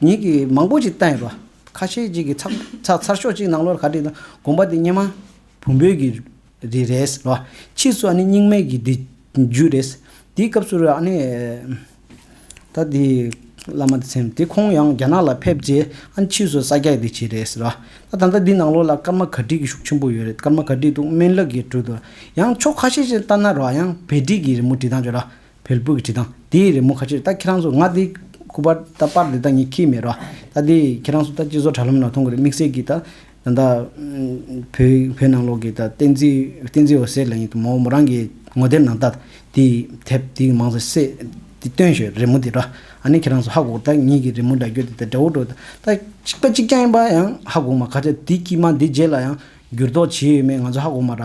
ཉིད་ཀྱིས་མང་པོ་ཞིག་བཏང་ཡོད་པ། ཁ་ཤས་ཅིག་གིས་ཚགས་ཚགས་ཚར་ཤོག་ཅིག་གནང་ལོར་ག་བྲིས་དང་དགོངས་པ་དེ་སྙེ་མ། བུམ་བོད་ཀྱི་རི་རེད་ལོ། ཕྱིས་སུ་ཨ་ནི་རྙིང་མའི་གི་དེ་རྒྱུད་རེད། དེའི་སྐབས་སུ་ར་ཨ་ནི། ད་དེ། བླ་མ་དེ་སེམས་དེ་ཁོང་ཡང་རྒྱ་ནག་ལ་ཕེབས་རྗེས་ཨ་ནི་ཕྱིས་སུ་ས་སྐྱ་དེ་བྱས་རེད་ལོ། ད་ད་ལྟ་དེའི་ནང་ལོར་ལ་སྐར་མ་ག་བྲིས་ཀྱི་ཤུགས་ཆེན་པོ་ཡོད་རེད་སྐར་མ་ག་བྲིས་འདུག་སྨན་བླ་གིས་བྲིས་འདུག་ཡང་ཕྱོགས་ཁ་ཤས་ཅིག་ལྟར་ན་རོ་ཡང་བེ་བྲིས་ཀྱི་རི་མོ་བྲིས་སྟངས་ཆོས་ར་བལ་པོ་གི་བྲིས་ཐང་དེའི་རི་མོ་ཁ་ཕྱིར་ད་ཁྱེད་རང་ཚོ་ང་འདི་ཁུག་པར་ད་དཔར་འདི་ད་ངས་ཁྱིས་མེད་རོ། ད་འདི་ཁྱེད་རང་ཚོ་ད་སྤྱི་ཟོག་དྲ་ལམ་ན་མཐོང་གི་རེད་དམིགས་བསལ་གྱིས་ད་ད་ད། བོད་བོད་ནང་ལོག་གི་ད་བསྟན་འཛིན་བསྟན་འཛིན་འོད་ཟེར་ལ་ཡིན་དུ་མོ་མོ་རང་གི་ངོ་དེབ་ནང་ད་འདི་དེབ་འདི་མང་ཚོ་བསད་འདི་སྟོན་ཞོར་རི་མོ་འདི་རོ། ཨ་ནི་ཁྱེད་རང་ཚོ་ཧ་གོ་ད་ངེད་ཀྱི་རི་མོ་འདྲ་འགྱུར་འདི་ད་འདྲ་བོ་འགྲོ་ད་གཅིག་པ་གཅིག་རྐྱང་ཡིན་པ་ཡང་ཧ་གོ་མ་ཁ་ཆེ་འདི་ཀྱིས་མ་འདི་རྗེས་ལ་ཡང་འགྱུར་ལྡོག་བྱེད་ཡོད་མེད་ང་ཚོ་ཧ་གོ་མ་ར།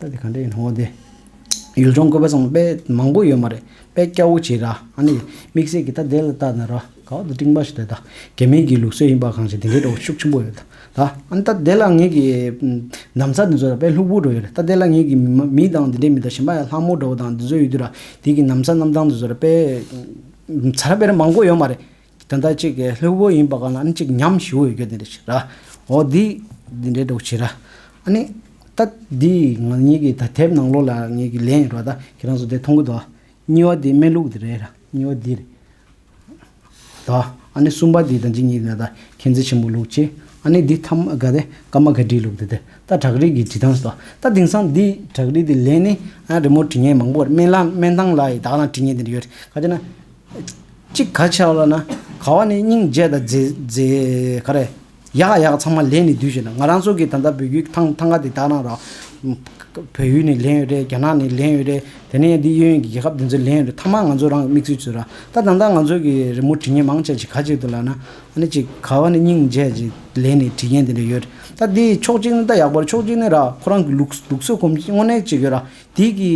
ད་དེ་ག་འདྲ་ཡིན་འོ་དེ། ཡུལ་ལྗོངས་བཀོད་པ་ཚང་དཔེ་མང་པོ་ཡོད་མ་རེད་དཔེ་སྐྱ་བོ་ཆེ་ར་ཨ་ནི་དམིགས་བསལ་གྱི་ད་དེ་ལ་བལྟ་ན་ར་ག་འོ་དེ་སྤྲིངས་པ་ཞིག་རེད་ད་རྒྱ་མིའི་གི་ལུགས་སྲོལ་ཡིན་པ་གང་ཞིག་དེ་འདྲའི་སྒྲོ་ཤུགས་ཆེན་པོ་ཡོད་ད་ཨ་ནི་ད་དེ་ལ་ངེད་ཀྱི་གདམ་ས་དེ་ཚོ་ར་དཔེ་ལྷུག་པོ་འགྲོ་ཡོད་རེད་ད་དེ་ལ་ངེད་ཀྱི་མི་དང་དེ་འདྲའི་མི་དང་གཞན་པ་ཡང་ལྷ་མོ་འདྲ་བོ་དང་དེ་ཚོ་ཡོད་དུས་ར་དེ་གི་གདམ་ས་རྣམ་གྲངས་དེ་ཚོ་ར་དཔེ་ཚ་ར་དཔེ་ར་མང་པོ་ཡོད་མ་རེད་དེ་ལྟར་གཅིག་གི་ལྷོད་པོ་ཡིན་པ་གང་ལ་ཨ་ནི་གཅིག་ཉམས་ཞུ་བའི་རྒྱུ་དེ་འདྲ་ཞིག་ར། འོ་དེ་འདི་འདྲའི་གྲོགས་བྱས་ར། ཨ་ནི། ད་དེ་ང་གཉིས་ཀྱི་ད་དེབ་ནང་ལོགས་ལ་ངེད་ཀྱི་ལན་ཡོད་ར་ད་ཁྱེད་རང་ཚོ་དེ་མཐོང་གི་འདུག་ཨ། གཉིས་བ་དེ་སྨན་ལུག་དེ་རེད་ར་གཉིས་བ་འདི་རེད། ད་ཨ་ནི་གསུམ་པ་དེ་ད་འཇིགས་ཉིད་ན་ད་མཁྱེན་བརྩེ་ཆེན་པོ་ལུག་ཅེས་ཨ་ནི་འདི་ཐ་མ་ག་དེ་ཀ་མ་ག་བྲིས་ལུག་དེ་དེ་ད་བྲག་རིས་ཀྱི་བྲིས་ཐང་ཟོ་ད་དེང་སང་འདི་བྲག་རིས་དེ་ལན་ནི་ཨ་རི་མོ་བྲིས་ངན་མང་པོ་ར་སྨན་ལ་སྨན་ཐང་ལ་ཡི་དྭགས་ལ་བྲིས་ངན་དེ་འདྲ་ཡོད་རེད་ག་དེ་ན། གཅིག་ག་ཆའོ་ལ་ན་ག་བ་ནི་སྙིང་རྗེ་དང་མཛེས་ག་རེ། ཡག་ཡག་ཚང་མ་ལེན་ནི་དུས་ཞིག་ན་ང་རང་སོ་གི་ད་ལྟ་བོད་རྒྱུད་ཐང་ཐང་ག་དེ་དག་ན་རང་བོད་ཡུལ་ནས་ལེན་ཡོད་རེད་རྒྱ་ནག་ནས་ལེན་ཡོད་རེད་དེ་ནས་འདི་གཡོན་གྱི་རྒྱལ་ཁབ་འདི་ཚོས་ལེན་ཡོད་རེད་ཐང་མ་ང་ཚོ་རང་གི་མིག་ཆུ་ཚོད་ར་ད་དང་ད་ང་ཚོ་གི་རི་མོ་བྲིས་མཁན་མང་ཆེ་གཅིག་ག་ཅིག་ཏུ་ལ་ན་ཨ་ནི་གཅིག་ག་བ་ནི་སྙིང་རྗེ་ཅིག་ལེན་ནི་བྲིས་མཁན་དེ་འདྲ་ཡོད་རེད་ད་འདིའི་ཕྱོགས་གཅིག་ནི་ད་ཡག་པོ་རེད་ཕྱོགས་གཅིག་ནི་ར་ཁོ་རང་གི་ལུགས་སྲོལ་གོམས་གཤིས་དངོས་གནས་གཅིག་ཡོད་ར་དེ་གི་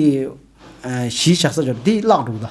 གཞིས་ཆགས་ས་ཆ་ར་དེ་བརླག་འགྲོ་གི་ད།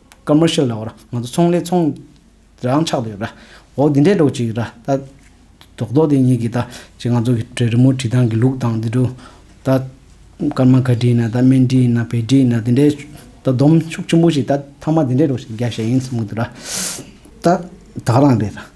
Commercial ལ་འོར་ང་ཚོ་ཚོང་ལས་ཚོང་རང་ཆགས་དུ་ཡོད་པ་ར་འོ་འདི་འདྲའི་སྒྲོག་ཅིག་ར་ད་རྡོག་རྡོག་དེ་གཉིས་ཀྱིས་ད་ཅི་ང་ཚོ་གི་དྲེ་རི་མོ་བྲིས་སྟངས་ཀྱི་ལུགས་དང་དེ་དྲུག་ད་སྐར་མ་ག་བྲིས་ན་ད་སྨན་བྲིས་ན་བལ་བྲིས་ན་དེ་འདྲའི་ད་སྡོམ་ཤུགས་ཆེན་པོ་ཞིག་ད་ཐ་མ་དེ་འདྲའི་སྒྲོག་ཤིག་རྒྱག་བཞེད་ཡིན་གསུང་གི་འདུག་ར་ད་ད་རང་རེད་ར།